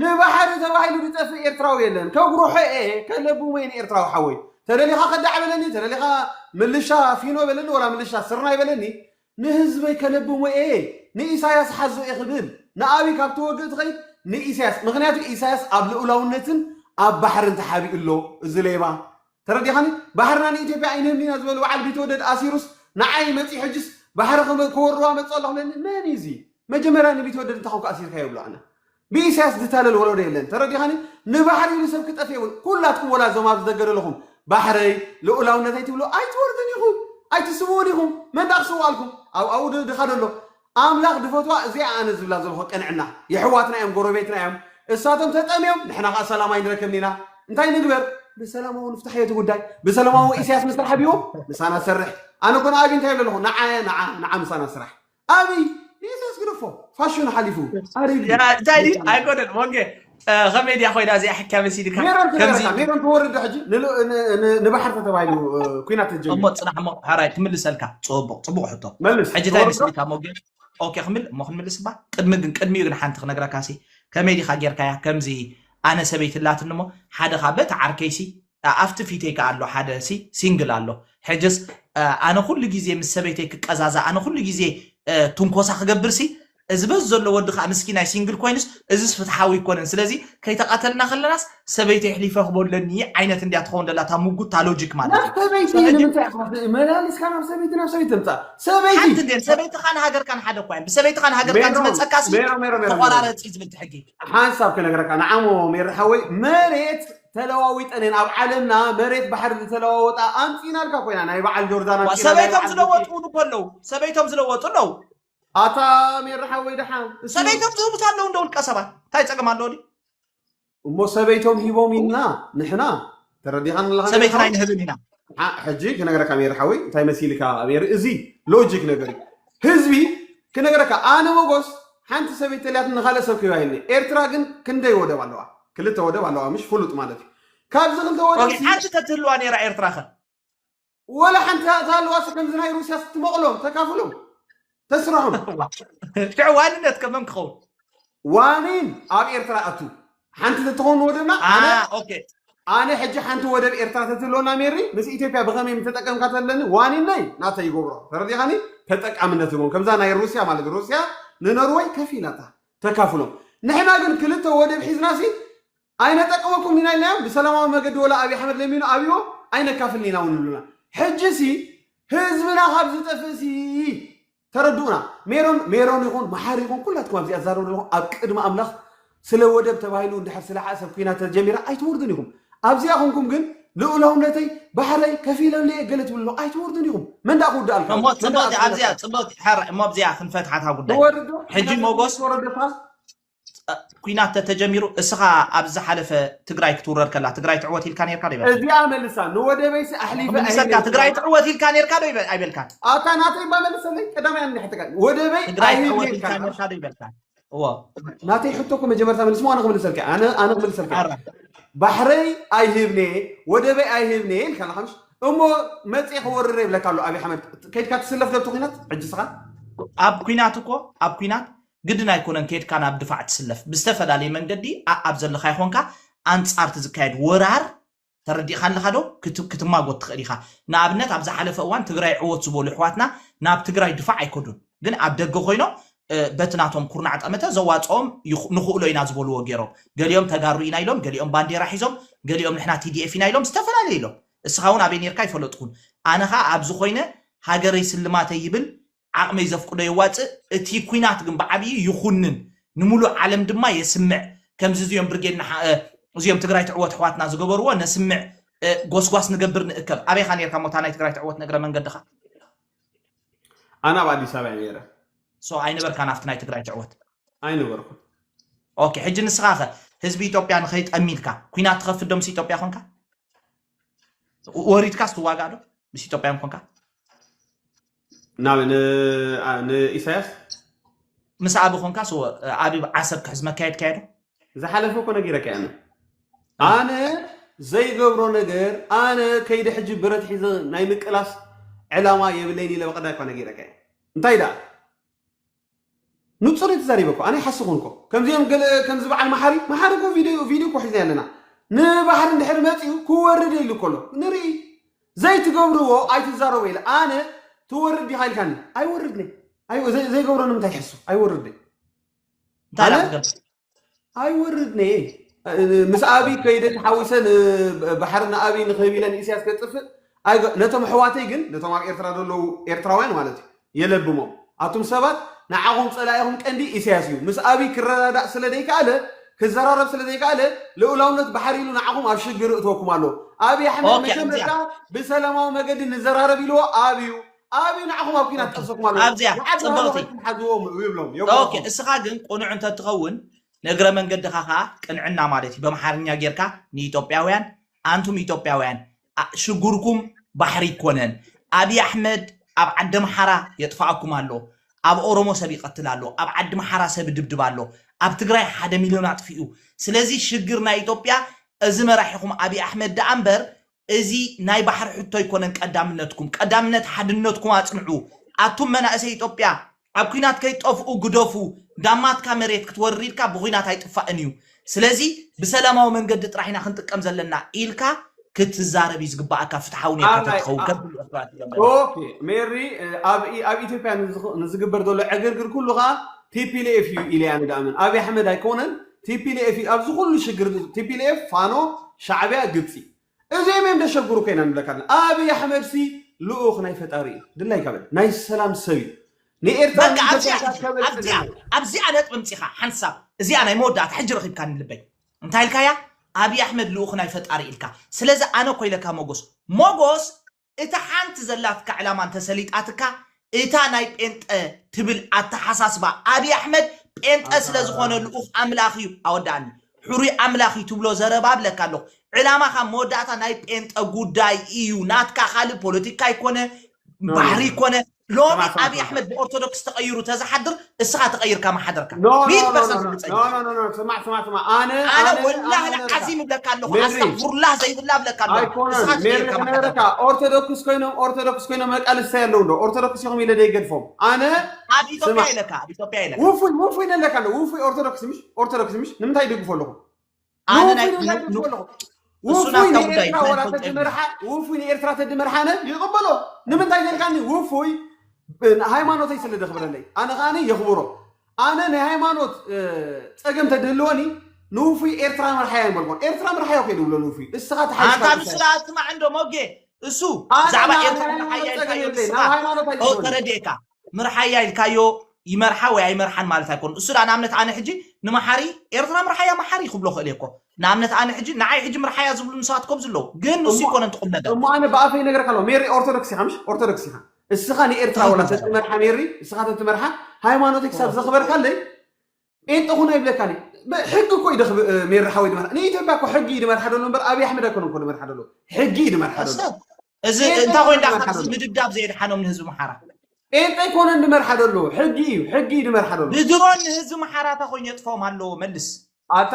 [SPEAKER 2] ንባሕሪ ተባሂሉ ዝጠፍእ ኤርትራዊ የለን ከጉርሖ'የ ከለብሞ'የ ንኤርትራዊ ሓወይ ተደሊኻ ከዳዕ በለኒ ተደሊኻ ምልሻ ፊኖ በለኒ ወላ ምልሻ ስርናይ በለኒ ንህዝበይ ከለብሞ'የ ንኢሳያስ ሓዞ'የ ክብል ንኣብይ ካብ ትወግእ ትኸይድ ንኢሳያስ ምኽንያቱ ኢሳያስ ኣብ ልኡላውነትን ኣብ ባሕርን ተሓቢኡ ኣሎ እዚ ሌባ ተረዲኻኒ ባሕርና ንኢትዮጵያ ኣይንህብን ኢና ዝበሉ በዓል ቢትወደድ ኣሲሩስ ንዓይ መጺኡ ሕጅስ ባሕሪ ክም- ክወርዋ መጽኡ ኣለኹ ለኒ መን እዩ እዚ መጀመርያ ንቢትወደድ እንታይ ኮንካ ኣሲርካዮ ይብሎ ኣነ ብኢሳያስ ዝታለል ወለዶ የለን ተረዲኻኒ ንባሕሪ ኢሉ ሰብ ክጠፍእ የብሉ ኩላትኩም ወላ እዞም ኣብዚ ደገ ዘለኹም ባሕረይ ልኡላውነተይ ትብሉ ኣይትወርዱን ኢኹም ኣይትስውኡን ኢኹም መን ዳኣ ክስውኣልኩም ኣብ ኣብኡ ድ- ድኻ ደሎ ኣምላኽ ድፈትዋ እዚኣ ኣነ ዝብላ ዘለኹ ቅንዕና የሕዋትና እዮም ጎረቤትና እዮም እሳቶም ተጠምዮም ንሕና ከኣ ሰላም ኣይንረክብን ኢና እንታይ ንግበር ብሰላማዊ ንፍታሕ እቲ ጉዳይ ብሰላማዊ ኢሳያስ ምስ ተሓቢኡ ምሳና ዝሰርሕ ኣነ ኮነ ኣብይ እንታይ ኣለኹ ንዓ ንዓ ንዓ ምሳና ስራሕ ኣብይ ንኢሳያስ ግደፎ ፋሽኑ ሓሊፉ ኣሪጉ እንታይ
[SPEAKER 1] ኣይኮነን ወንጌ ከመይ ድያ ኮይና እዚኣ ሕክያ መሲድካ ሜሮን ትነግረካ ሜሮን
[SPEAKER 2] ትወርድ ሕጂ ንባሕር ተተባሂሉ ኩናት ተጀሚሩ እሞ ፅናሕ እሞ ሕራይ
[SPEAKER 1] ክምልሰልካ ፅቡቅ ፅቡቅ ሕቶ መልስ ሕጂ እንታይ መስሊካ እሞ ግን ኦኬ ክምል እሞ ክንምልስ እባ ቅድሚ ግን ቅድሚኡ ግን ሓንቲ ክነግረካ ሲ ከመይ ዲካ ጌርካያ ከምዚ ኣነ ሰበይቲ ላትኒ እሞ ሓደ ካብ በቲ ዓርከይሲ ኣፍቲ ፊተይ ከኣ ኣሎ ሓደ ሲንግል ኣሎ ሕጅስ ኣነ ኩሉ ግዜ ምስ ሰበይተይ ክቀዛዛ ኣነ ኩሉ ግዜ ትንኮሳ ክገብር ሲ እዚ በዝ ዘሎ ወዲ ከኣ ምስኪናይ ሲንግል ኮይኑስ እዚስ ፍትሓዊ ኣይኮነን ስለዚ ከይተቀተልና ከለናስ ሰበይተይ ሕሊፈ ክቦ ኣለኒ ዓይነት እንድያ ትኸውን ደላ እታ ምጉት እታ ሎጂክ ማለት ናብ ሰበይቲ ንምንታይ
[SPEAKER 2] ኢኻ መላሊስካ ናብ ሰበይቲ ናብ ሰበይቲ ትምጻእ ሰበይቲ ሓንቲ እንዴ ሰበይትኻን
[SPEAKER 1] ሃገርካን ሓደ እኳ እዮም ብሰበይትኻን ሃገርካን ዝመጸካሲ ተቆራረጽ እዩ ዝብል ትሕጊ ሓንሳብ ክነግረካ
[SPEAKER 2] ንዓሞ ሜሪ ሓወይ መሬት ተለዋዊጠንየን ኣብ ዓለምና መሬት ባሕሪ ዝተለዋወጣ ኣምጺኢናልካ ኮይና ናይ በዓል ጆርዳን ዋ ኣምጺኢና ናይ ሰበይቶም በዓል ቡቲ ዝለወጡ
[SPEAKER 1] እውን እኮ ኣለዉ ሰበይቶም ዝለወጡ ኣለዉ ኣታ
[SPEAKER 2] ሜሪ ሓወይ ደሓን እሱ ሰበይቶም ዝህቡት ኣለዉ
[SPEAKER 1] እንዶ ውልቀ ሰባት እንታይ ጸገም ኣለዎ ድዩ እሞ
[SPEAKER 2] ሰበይቶም ሂቦም ኢና ንሕና ተረዲኻን ኣለኻ ሜሪ ሰበይትና ሓወይ ኣይንህብን ኢና
[SPEAKER 1] ንዓ ሕጂ
[SPEAKER 2] ክነግረካ ሜሪ ሓወይ እንታይ መሲልካ ሜሪ እዚ ሎጂክ ነገር እዩ ህዝቢ ክነግረካ ኣነ መጎስ ሓንቲ ሰበይቲ ተልያት ንካልእ ሰብ ክህባ ኢልኒ ኤርትራ ግን ክንደይ ወደብ ኣለዋ ክልተ ወደብ ኣለዋ ምሽ ፍሉጥ ማለት እዩ ካብዚ ክልተ ወደብ ኦኬ ሓንቲ ተትህልዋ
[SPEAKER 1] ነይራ ኤርትራ ከ ወላ
[SPEAKER 2] ሓንቲ ተሃልዋሲ ከምዚ ናይ ሩስያ ስትመቕሎ ተካፍሎም ተስራሑ ሽዑ
[SPEAKER 1] ዋንነት ከመን ክኸውን ዋኒን
[SPEAKER 2] ኣብ ኤርትራ ኣቱ ሓንቲ ተትኸውን ወደብና ኣነ ኦኬ
[SPEAKER 1] ኣነ ሕጂ
[SPEAKER 2] ሓንቲ ወደብ ኤርትራ ተትህልወና ሜሪ ምስ ኢትዮጵያ ብኸመይ ምተጠቀምካ ተለኒ ዋኒነይ ናተ ይገብሮ ተረዲኻኒ ተጠቃምነት ህቦም ከምዛ ናይ ሩስያ ማለት ሩስያ ንኖርወይ ከፊላታ ተካፍሎም ንሕና ግን ክልተ ወደብ ሒዝናሲ ኣይነጠቅመኩምን ኢና ኢልናዮም ብሰላማዊ መገዲ ወላ ኣብይ ኣሕመድ ለሚኑ ኣብይዎ ኣይነካፍልን ኢና ውን ይብሉና ሕጂ ሲ ህዝብና ካብ ዝጠፍእ ሲ ተረድኡና ሜሮን ሜሮን ይኹን መሓሪ ይኹን ኩላትኩም ኣብዚ ኣዛረቡ ዘለኹም ኣብ ቅድሚ ኣምላኽ ስለ ወደብ ተባሂሉ እንድሕር ስለ ሓእሰብ ኩናት ተጀሚራ ኣይትወርዱን ኢኹም ኣብዚኣ ኮንኩም ግን ልኡላውነተይ ባሕረይ ከፊለለየ ገለ ትብሉ ኣለኹም ኣይትወርዱን ኢኹም መን ደኣ ክውድኣልካ እዩ? እሞ መን ደኣ ጽብቕቲ ክኣስረልካ
[SPEAKER 1] ኣብዚኣ እዩ? ጽብቕቲ ሕራይ እሞ ኣብዚኣ ክንፈትሓታ ጉዳይ ብወርዶ ሕጂ ሕና ሞጎስ ወረደካ ኩናት ተጀሚሩ እስኻ ኣብ ዝሓለፈ ትግራይ ክትውረር ከላ ትግራይ ትዕወት ኢልካ ነርካ ዶ ይበልካ እዚኣ መልሳ
[SPEAKER 2] ንወደበይሲ ኣሕሊፈ ምልሰካ ኣይህብን ትግራይ ኢልካ። ትዕወት
[SPEAKER 1] ኢልካ ነርካ ዶ ይበ- ኣይበልካን ኣታ ናተይ እባ
[SPEAKER 2] መልሰለይ ቀዳማይ ኣንድ ሕቶ ካይ ወደበይ ትግራይ ኣይህብን ትዕወት ኢልካ
[SPEAKER 1] ኢልካ ነርካ ዶ ይበልካን እዎ ናተይ
[SPEAKER 2] ሕቶ እኮ መጀመርታ መልስሞ ኣነ ክምልሰልካ እየ። ኣነ ኣነ ክምልሰልካ እየ። ኣራ ባሕረይ ኣይህብኔ ወደበይ ኣይህብኔ ኢልካ ኣለካ ምሽ እሞ መፅኤ ክወርር የብለካ ኣሎ ኣብይ ኣሕመድ ከይድካ ትስለፍ ዶ እቲ ኩናት ሕጂ ስኻ ኣብ ኩናት
[SPEAKER 1] እኮ ኣብ ኩናት ግድን ኣይኮነን ከይድካ ናብ ድፋዕ ትስለፍ ብዝተፈላለየ መንገዲ ኣኣብ ዘለኻዮ ኮንካ ኣንጻር እቲ ዝካየድ ወራር ተረዲእኻ ኣለኻ ዶ ክት ክትማጎት ትኽእል ኢኻ ንኣብነት ኣብ ዝሓለፈ እዋን ትግራይ ዕወት ዝበሉ ኣሕዋትና ናብ ትግራይ ድፋዕ ኣይከዱን ግን ኣብ ደገ ኮይኖም በቲ ናቶም ኩርናዕ ጠመተ ዘዋጽኦም ይኽ ንኽእሎ ኢና ዝበልዎ ገይሮም ገሊኦም ተጋሩ ኢና ኢሎም ገሊኦም ባንዴራ ሒዞም ገሊኦም ንሕና TDF ኢና ኢሎም ዝተፈላለየ ኢሎም እስኻ ውን ኣበይ ኔርካ ኣይፈለጥኩን ኣነ ኸኣ ኣብዚ ኮይነ ሃገረይ ስልማተይ ይብል ዓቕመይ ዘፍቅዶ የዋጽእ፣ እቲ ኩናት ግን ብዓብዩ ይኹንን ንሙሉእ ዓለም ድማ የስምዕ፣ ከምዚ እዚኦም ብርጌድ ንሓ እዚኦም ትግራይ ትዕወት ኣሕዋትና ዝገበርዎ ነስምዕ፣ ጎስጓስ ንገብር ንእከብ። ኣበይ ኢኻ ኔርካ እሞ እታ ናይ ትግራይ ትዕወት ንእግረ መንገድኻ? ኣነ
[SPEAKER 2] ኣብ ኣዲስ ኣበባ እየ ነይረ። ሶ ኣይነበርካን
[SPEAKER 1] ኣብቲ ናይ ትግራይ ትዕወት? ኣይነበርኩን።
[SPEAKER 2] ኦኬ
[SPEAKER 1] ሕጂ ንስኻ ከ ህዝቢ ኢትዮጵያ ንኸይጠሚ ኢልካ ኩናት ትኸፍት ዶ ምስ ኢትዮጵያ ኮንካ ወሪድካ ስትዋጋእ ዶ ምስ ኢትዮጵያ ኮንካ ናብ
[SPEAKER 2] ንኢሳያስ
[SPEAKER 1] ምስ ኣቢ ኮንካ ሶ ኣቢ ዓሰብ ክሕዝ መካየድ ካየዶ ዝሓለፈ እኮ
[SPEAKER 2] ነጊረካ ኣነ ኣነ ዘይገብሮ ነገር ኣነ ከይደ ሕጂ ብረት ሒዘ ናይ ምቅላስ ዕላማ የብለይን ኢለ በቀዳይ እኳ ነጊረካ እንታይ ደኣ ንጹር እየ ተዛሪበ እኮ ኣነ ይሓስኹን እኮ ከምዚኦም ገለ ከምዚ በዓል መሓሪ መሓሪ እኮ ቪድዮ ቪድዮ እኮ ሒዝና ኣለና ንባሕሪ እንድሕር መጺኡ ክወርድ የሉ ከሎ ንርኢ ዘይትገብርዎ ኣይትዛረቡ ኢለ ኣነ ትወርድ ዲኻ ኢልካኒ ኣይወርድኒ ዘይገብሮ ንምንታይ ይሕሱ ኣይወርድኒ እንታይ ኣይወርድን እየ ምስ ኣብይ ከይደ ተሓዊሰ ባሕሪ ንኣብይ ንክህብ ኢለ ንኢስያስ ከጥፍእ ኣይገ- ነቶም ኣሕዋተይ ግን ነቶም ኣብ ኤርትራ ዘለዉ ኤርትራውያን ማለት እዩ የለብሞም ኣቱም ሰባት ንዓኹም ጸላኢኹም ቀንዲ ኢሳያስ እዩ ምስ ኣብይ ክረዳዳእ ስለ ዘይከኣለ ክዘራረብ ስለ ዘይከኣለ ልኡላውነት ባሕሪ ኢሉ ንዓኹም ኣብ ሽግር እትወኩም ኣሎ ኣብይ ኣሕመድ ኦኬ፣ መጀመርታ ብሰላማዊ መገዲ ንዘራረብ ኢልዎ ኣብዩ ኣብይ ንዓኹም ኣብ ኲናት ጠሰኩም ኣሎ ኣብዚያ ንዓዲ ሃሎ ፅብቕቲ ከይድኩም
[SPEAKER 1] ሓዝዎም ይብሎም ኦኬ የጓኹም እስኻ ግን ቅኑዕ እንተትኸውን ንእግረ መንገድኻ ከዓ ቅንዕና ማለት እዩ በምሓርኛ ጌርካ ንኢትዮጵያውያን ኣንቱም ኢትዮጵያውያን ኣ- ሽጉርኩም ባሕሪ ይኮነን ኣብይ ኣሕመድ ኣብ ዓዲ ምሓራ የጥፋኣኩም ኣሎ ኣብ ኦሮሞ ሰብ ይቐትል ኣሎ ኣብ ዓዲ ምሓራ ሰብ ይድብድብ ኣሎ ኣብ ትግራይ ሓደ ሚልዮን ኣጥፊኡ ስለዚ ሽግር ናይ ኢትዮጵያ እዚ መራሒኹም ኣብይ ኣሕመድ ደኣ እምበር እዚ ናይ ባሕሪ ሕቶ ኣይኮነን ቀዳምነትኩም ቀዳምነት ሓድነትኩም ኣጽንዑ ኣቱም መናእሰይ ኢጦጵያ ኣብ ኩናት ከይትጠፍኡ ግደፉ ዳማትካ መሬት ክትወርር ኢልካ ብኩናት ኣይጥፋእን እዩ ስለዚ ብሰላማዊ መንገዲ ጥራሕ ኢና ክንጥቀም ዘለና ኢልካ ክትዛረብ እዩ ዝግባኣካ ፍትሓዊ ኔርካ ተትኸውን ከም ኩሉ ኤርትራውያን ትብሎም ዘለኻ
[SPEAKER 2] ኦኬ ሜሪ ኣብ ኣብ ኢትዮጵያ ንዝግበር ዘሎ ዕግርግር ኩሉ ከዓ ቲፒኤልኤፍ እዩ ኢለ ኣነ ድኣምን ኣብይ ኣሕመድ ኣይኮነን ቲፒሌኤፍ እዩ ኣብዚ ኩሉ ሽግር እዚ ቲፒሌኤፍ ፋኖ ሻዕብያ ግብጺ እዚኦም እዮም ደሸግሩከ ኢና ንብለካ ኣለና ኣብይ ኣሕመድ ሲ ልኡኽ ናይ ፈጣሪ እዩ ድላይካ በል ናይ ሰላም ሰብ እዩ ንኤርትራ በቃ ኣዚኣ ንኢትዮጵያ እያ ከበልጽግ ኣብዚኣ ኣለዎ ኣብዚኣ ነጥቢ ምጺኻ ሓንሳብ እዚኣ ናይ መወዳእታ ሕጂ ረኺብካኒ ልበይ እንታይ ኢልካያ ኣብዪ ኣሕመድ ልኡኽ ናይ ፈጣሪ ኢልካ ስለዚ ኣነ እኮ ኢለካ ሞጎስ ሞጎስ እታ ሓንቲ ዘላትካ ዕላማ እንተሰሊጣትካ እታ ናይ ጴንጠ ትብል ኣተሓሳስባ ኣብይ ኣሕመድ ጴንጠ ስለዝኾነ ልኡኽ ኣምላኽ እዩ ኣወዳኣኒ ሕሩይ ኣምላኽ እዩ ትብሎ ዘረባ ኣብለካ ኣለኹ ዕላማኻ መወዳእታ ናይ ጴንጠ ጉዳይ እዩ ናትካ ካልእ ፖለቲካ ይኮነ ባሕሪ ይኮነ ሎሚ ኣብይ ኣሕመድ ብኦርቶዶክስ ተቐይሩ ተዝሓድር እስኻ ተቐይርካ ምሓደርካ ሚእቲ ፐርሰንት ርግፀኛ ስማዕ ስማዕ ስማዕ ኣነ ኣነ ወላሂ
[SPEAKER 1] ዓዚም እብለካ ኣለኹ ኣስተግፍሩላህ ዘይብላ እብለካ ኣለኹ እስኻ ተቐይርካ ምሓደርካ
[SPEAKER 2] ኦርቶዶክስ ኮይኖም ኦርቶዶክስ ኮይኖም መቃልስታይ ኣለዉ ዶ ኦርቶዶክስ ኢኹም ኢለ ደይገድፎም ኣነ ኣብ ኢትዮጵያ ኢለካ ኣብ ኢትዮጵያ
[SPEAKER 1] ኢለካ ውፉይ ውፉይ
[SPEAKER 2] ነለካ ኣሎ ውፉይ ኦርቶዶክስ ምሽ ኦርቶዶክስ ምሽ ንምንታይ ይድግፎ ኣለኹ ኣነ ናይ ውፉይ ን-
[SPEAKER 1] ንብለኩም ን- ኣለኹ እሱ ውፉይ ናትካ ጉዳይ ንኤርትራ
[SPEAKER 2] እንታይ ዋላ ትፈልጦ የብለይ ተድመርሓ ውፉይ ንኤርትራ ተድመርሓ ኣነ ይቕበሎ ንምንታይ ዘልካኒ ውፉይ ብ- ሃይማኖተይ ስለ ዘኽብረለይ ኣነ ከዓኒ የኽብሮ ኣነ ናይ ሃይማኖት እ፣ ጸገም ተድህልወኒ ንውፉይ ኤርትራ ምርሓዮ ይበልኮን ኤርትራ ምርሓዮ ከይ ድብሎ ንውፉይ እስኻ ኣንታ ተሓይሽካ ንሱ ቁሳይ
[SPEAKER 1] ኣስማዕ እንዶ ሞጌ እሱ ኣነ ብዛዕባ ናብ ኤርትራ ናይ ምርሓያ ሃይማኖት ኢልካዮ ጸገም የብለይ ናብ ንስኻ ሃይማኖት ኦ ኣይትእትወኒ ተረድኤካ ምርሓያ ኢልካዮ ይመርሓ ወይ ኣይመርሓን ማለት ኣይኮኑን እሱ ድኣ ንኣብነት ኣነ ሕጂ ንመሓሪ ኤርትራ ምርሓያ መሓሪ ክብሎ ክእል እየ እኮ ንኣብነት ኣነ ሕጂ ንዓይ ሕጂ ምርሓያ ዝብሉ ንሰባት ኮብዚ ኣለዉ ግን ንሱ እሞ ይኮነን ትቁም ነገር እሞ ኣነ ብኣፈይ ነገርካ
[SPEAKER 2] ኣለዋ ሜሪ ኦርቶዶክስ ኢኻ ምሽ ኦርቶዶክስ ኢኻ እስኻ ንኤርትራ ወላ ትኽክል ዘረባ ተትመርሓ ሜሪ እስኻ ተትመርሓ ሃይማኖተይ ክሳብ ትኽክል ዘኽበርካለይ ጴንጠ ኩን ኣይብለካን እዩ ብ- ሕጊ እኮ እዩ ደኽ ብ- ሜሪ ሓወይ ድመርሓ ንኢትዮጵያ እኮ ሕጊ እዩ ድመርሓ ደሎ እምበር ኣብዪ ኣሕመድ ኣይኮነን እኮ ድመርሓ ደሎ ሕጊ እዩ ድመርሓ ደሎ ሰብ እዚ ጴንጤ እንታይ ኮይኑ
[SPEAKER 1] ኣይኮነን ዳኣ ዝመርሓ ዘሎ ምድብዳብ ዘየድሓኖም ንህዝቢ ምሓራ ጴንጤ ኣይኮነን
[SPEAKER 2] ዝመርሓ ዘሎ ሕጊ እዩ ሕጊ እዩ ዝመርሓ ዘሎ ብድሮን ንህዝቢ ምሓራ
[SPEAKER 1] እንታይ ኮይኑ የጥፍኦም ኣለዎ መልስ ኣታ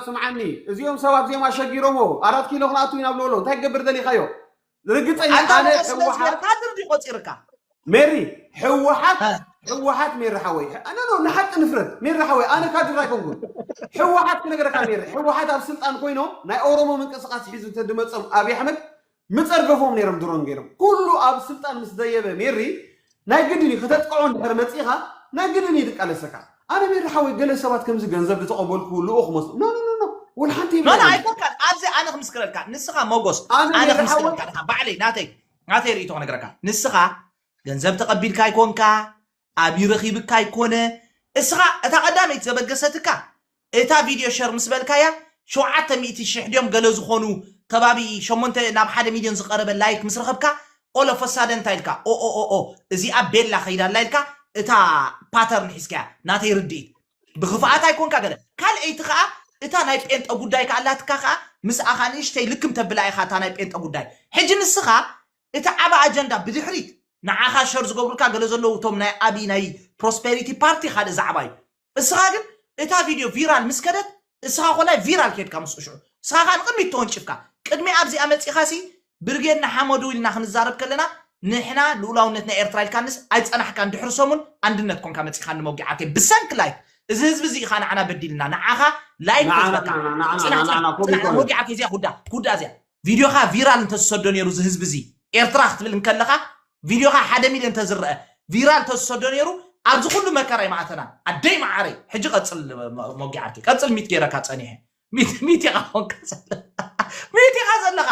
[SPEAKER 2] ስምዓኒ እዚኦም ሰባት እዚኦም ኣሸጊሮሞ ኣራት ኪሎ ክንኣቱ ኢና ብለሎ እንታይ ክገብር ደሊኻዮ ርግፀኛ ኣንታ ኣነ ንዑ ስለ ህወሓት ዝበልካ ድርዲ
[SPEAKER 1] ቆፂርካ ሜሪ
[SPEAKER 2] ህወሓት እ፣ ህወሓት ሜሪ ሓወይ ኣነ ኖ ንሓቂ ንፍረድ ሜሪ ሓወይ ኣነ ካድር ኣይኮንኩን ህወሓት ክነገረካ ሜሪ ህወሓት ኣብ ስልጣን ኮይኖም ናይ ኦሮሞ ምንቅስቃስ ሒዙ እንተድመፆም ኣብዪ ኣሕመድ ምጸርገፎም ነይሮም ድሮን ገይሮም ኩሉ ኣብ ስልጣን ምስ ደየበ ሜሪ ናይ ግድን እዩ ከተጥቅዖ እንድሕር መጺኻ ናይ ግድን እዩ ድቃለሰካ ኣነ ሜሪ ሓወይ ገለ ሰባት ከምዚ ገንዘብ ድተቐበልኩ ልኡኽ መስሎ ኖ ኖ ኖ ወልሓንቲ ኖ ኖ ኣይኮንካን
[SPEAKER 1] ኣብዚ ኣነ ክምስክረልካ ንስኻ መጎስ ኣነ ኣነ ሜሪ ክምስክረልካ ሓወይ ድኻ ባዕለይ ናተይ ናተይ ርእይቶ ክነግረካ ንስኻ ገንዘብ ተቐቢልካ ኣይኮንካ ኣብዩ ረኪብካ ኣይኮነ እስኻ እታ ቀዳመይቲ ዘበገሰትካ እታ ቪድዮ ሸር ምስ በልካያ ሸውዓተ ሚእቲ ሽሕ ድዮም ገለ ዝኾኑ ከባቢ ሸሞንተ ናብ ሓደ ሚልዮን ዝቀረበ ላይክ ምስ ረኸብካ ኦል ኦፍ አ ሳደን እንታይ ኢልካ ኦኦኦኦ እዚኣ ቤላ ከይዳ ኣላ ኢልካ እታ ፓተርን ሒዝካያ ናተይ ርድኢት ብክፍኣት ኣይኮንካ ገለ ካልኣይቲ ከኣ እታ ናይ ጴንጠ ጉዳይ ከኣ ኣላትካ ከኣ ምስኣ ከኣ ንእሽተይ ልክም ተብላ ኢኻ እታ ናይ ጴንጠ ጉዳይ ሕጂ ንስኻ እቲ ዓቢ ኣጀንዳ ብድሕሪት ንዓኻ ሸር ዝገብሩልካ ገለ ዘለዉ እቶም ናይ ኣቢ ናይ ፕሮስፐሪቲ ፓርቲ ካልእ ዛዕባ እዩ እስኻ ግን እታ ቪድዮ ቪራል ምስ ከደት እስኻ ኮላይ ቪራል ኬድካ ምስኡ ሽዑ እስኻ ከኣ ንቕድሚት ተወንጪፍካ ቅድሚ ኣብዚኣ መጺኻ ሲ ብርጌድ ንሓመዱ ኢልና ክንዛረብ ከለና ንሕና ልኡላውነት ናይ ኤርትራ ኢልካንስ ኣይጸናሕካን ድሕሪ ሰሙን ኣንድነት ኮንካ መጺኻኒ መውጊዓተይ ብሰንኪ ላይክ እዚ ህዝቢ እዚ ኢኻ ንዓና በዲልና ንዓኻ ላይክ ንዓና ተዝበካ ንዓና ንዓና ንዓና ጽናሕ ጽናሕ ጽናሕ ኮሚኮ እዩ ወጊዓተይ እዚኣ ኩዳ ኩዳ እዚኣ ቪድዮኻ ቪራል እንተዝሰዶ ነይሩ እዚ ህዝቢ እዚ ኤርትራ ክትብል እንከለኻ ቪድዮኻ ሓደ ሚልዮን እንተዝረአ ቪራል እንተዝሰዶ ነይሩ ኣብዚ ኩሉ መከራ ይማእተና ኣደይ መዓረይ ሕጂ ቀፅል ሞጊ ዓርኪ ቀፅል ሚት ገይረካ ፀኒሐ ሚት ኢኻ ኮንካ ሚት ኢኻ ዘለኻ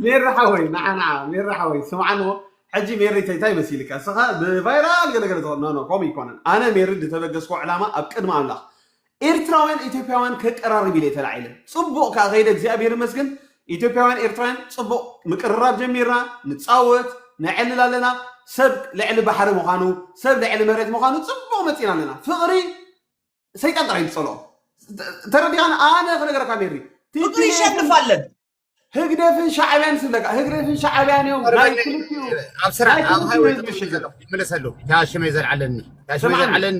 [SPEAKER 1] ሜሪ ሓወይ
[SPEAKER 2] ንዓ ንዓ ሜሪ ሓወይ ስምዓን እሞ ሕጂ ሜሪተይ እንታይ መሲልካ እስኻ ብቫይራል ገለገለ ትኾን ኖ ኖ ከምኡ ይኮነን ኣነ ሜሪ ዝተበገስኮ ዕላማ ኣብ ቅድሚ ኣምላኽ ኤርትራውያን ኢትዮጵያውያን ከቀራርብ ኢለ ተላዒለ ጽቡቕ ከኣ ከይደ እግዚኣብሔር ይመስገን ኢትዮጵያውያን ኤርትራውያን ጽቡቕ ምቅርራብ ጀሚርና ንጻወት ነዕልል ኣለና ሰብ ልዕሊ ባሕሪ ምዃኑ ሰብ ልዕሊ መሬት ምዃኑ ጽቡቕ መጺና ኣለና ፍቕሪ ሰይጣን ጥራይ ዝጸልኦ ተረዲኻን ኣነ ክነገረካ ሜሪ ፍቅሪ ይሸንፍ ኣለን ህግደፍን ሻዕብያን ስለካ ህግደፍን ሻዕብያን እዮም ናይ ክልቲኡ ኣብ
[SPEAKER 3] ስራሕ ኣብ ሃይወይ ተቐሚጠ ዘለኹ ይመለሰሉ እታ ሽመይ ዘልዓለኒ እታ ሽመይ ዘልዓለኒ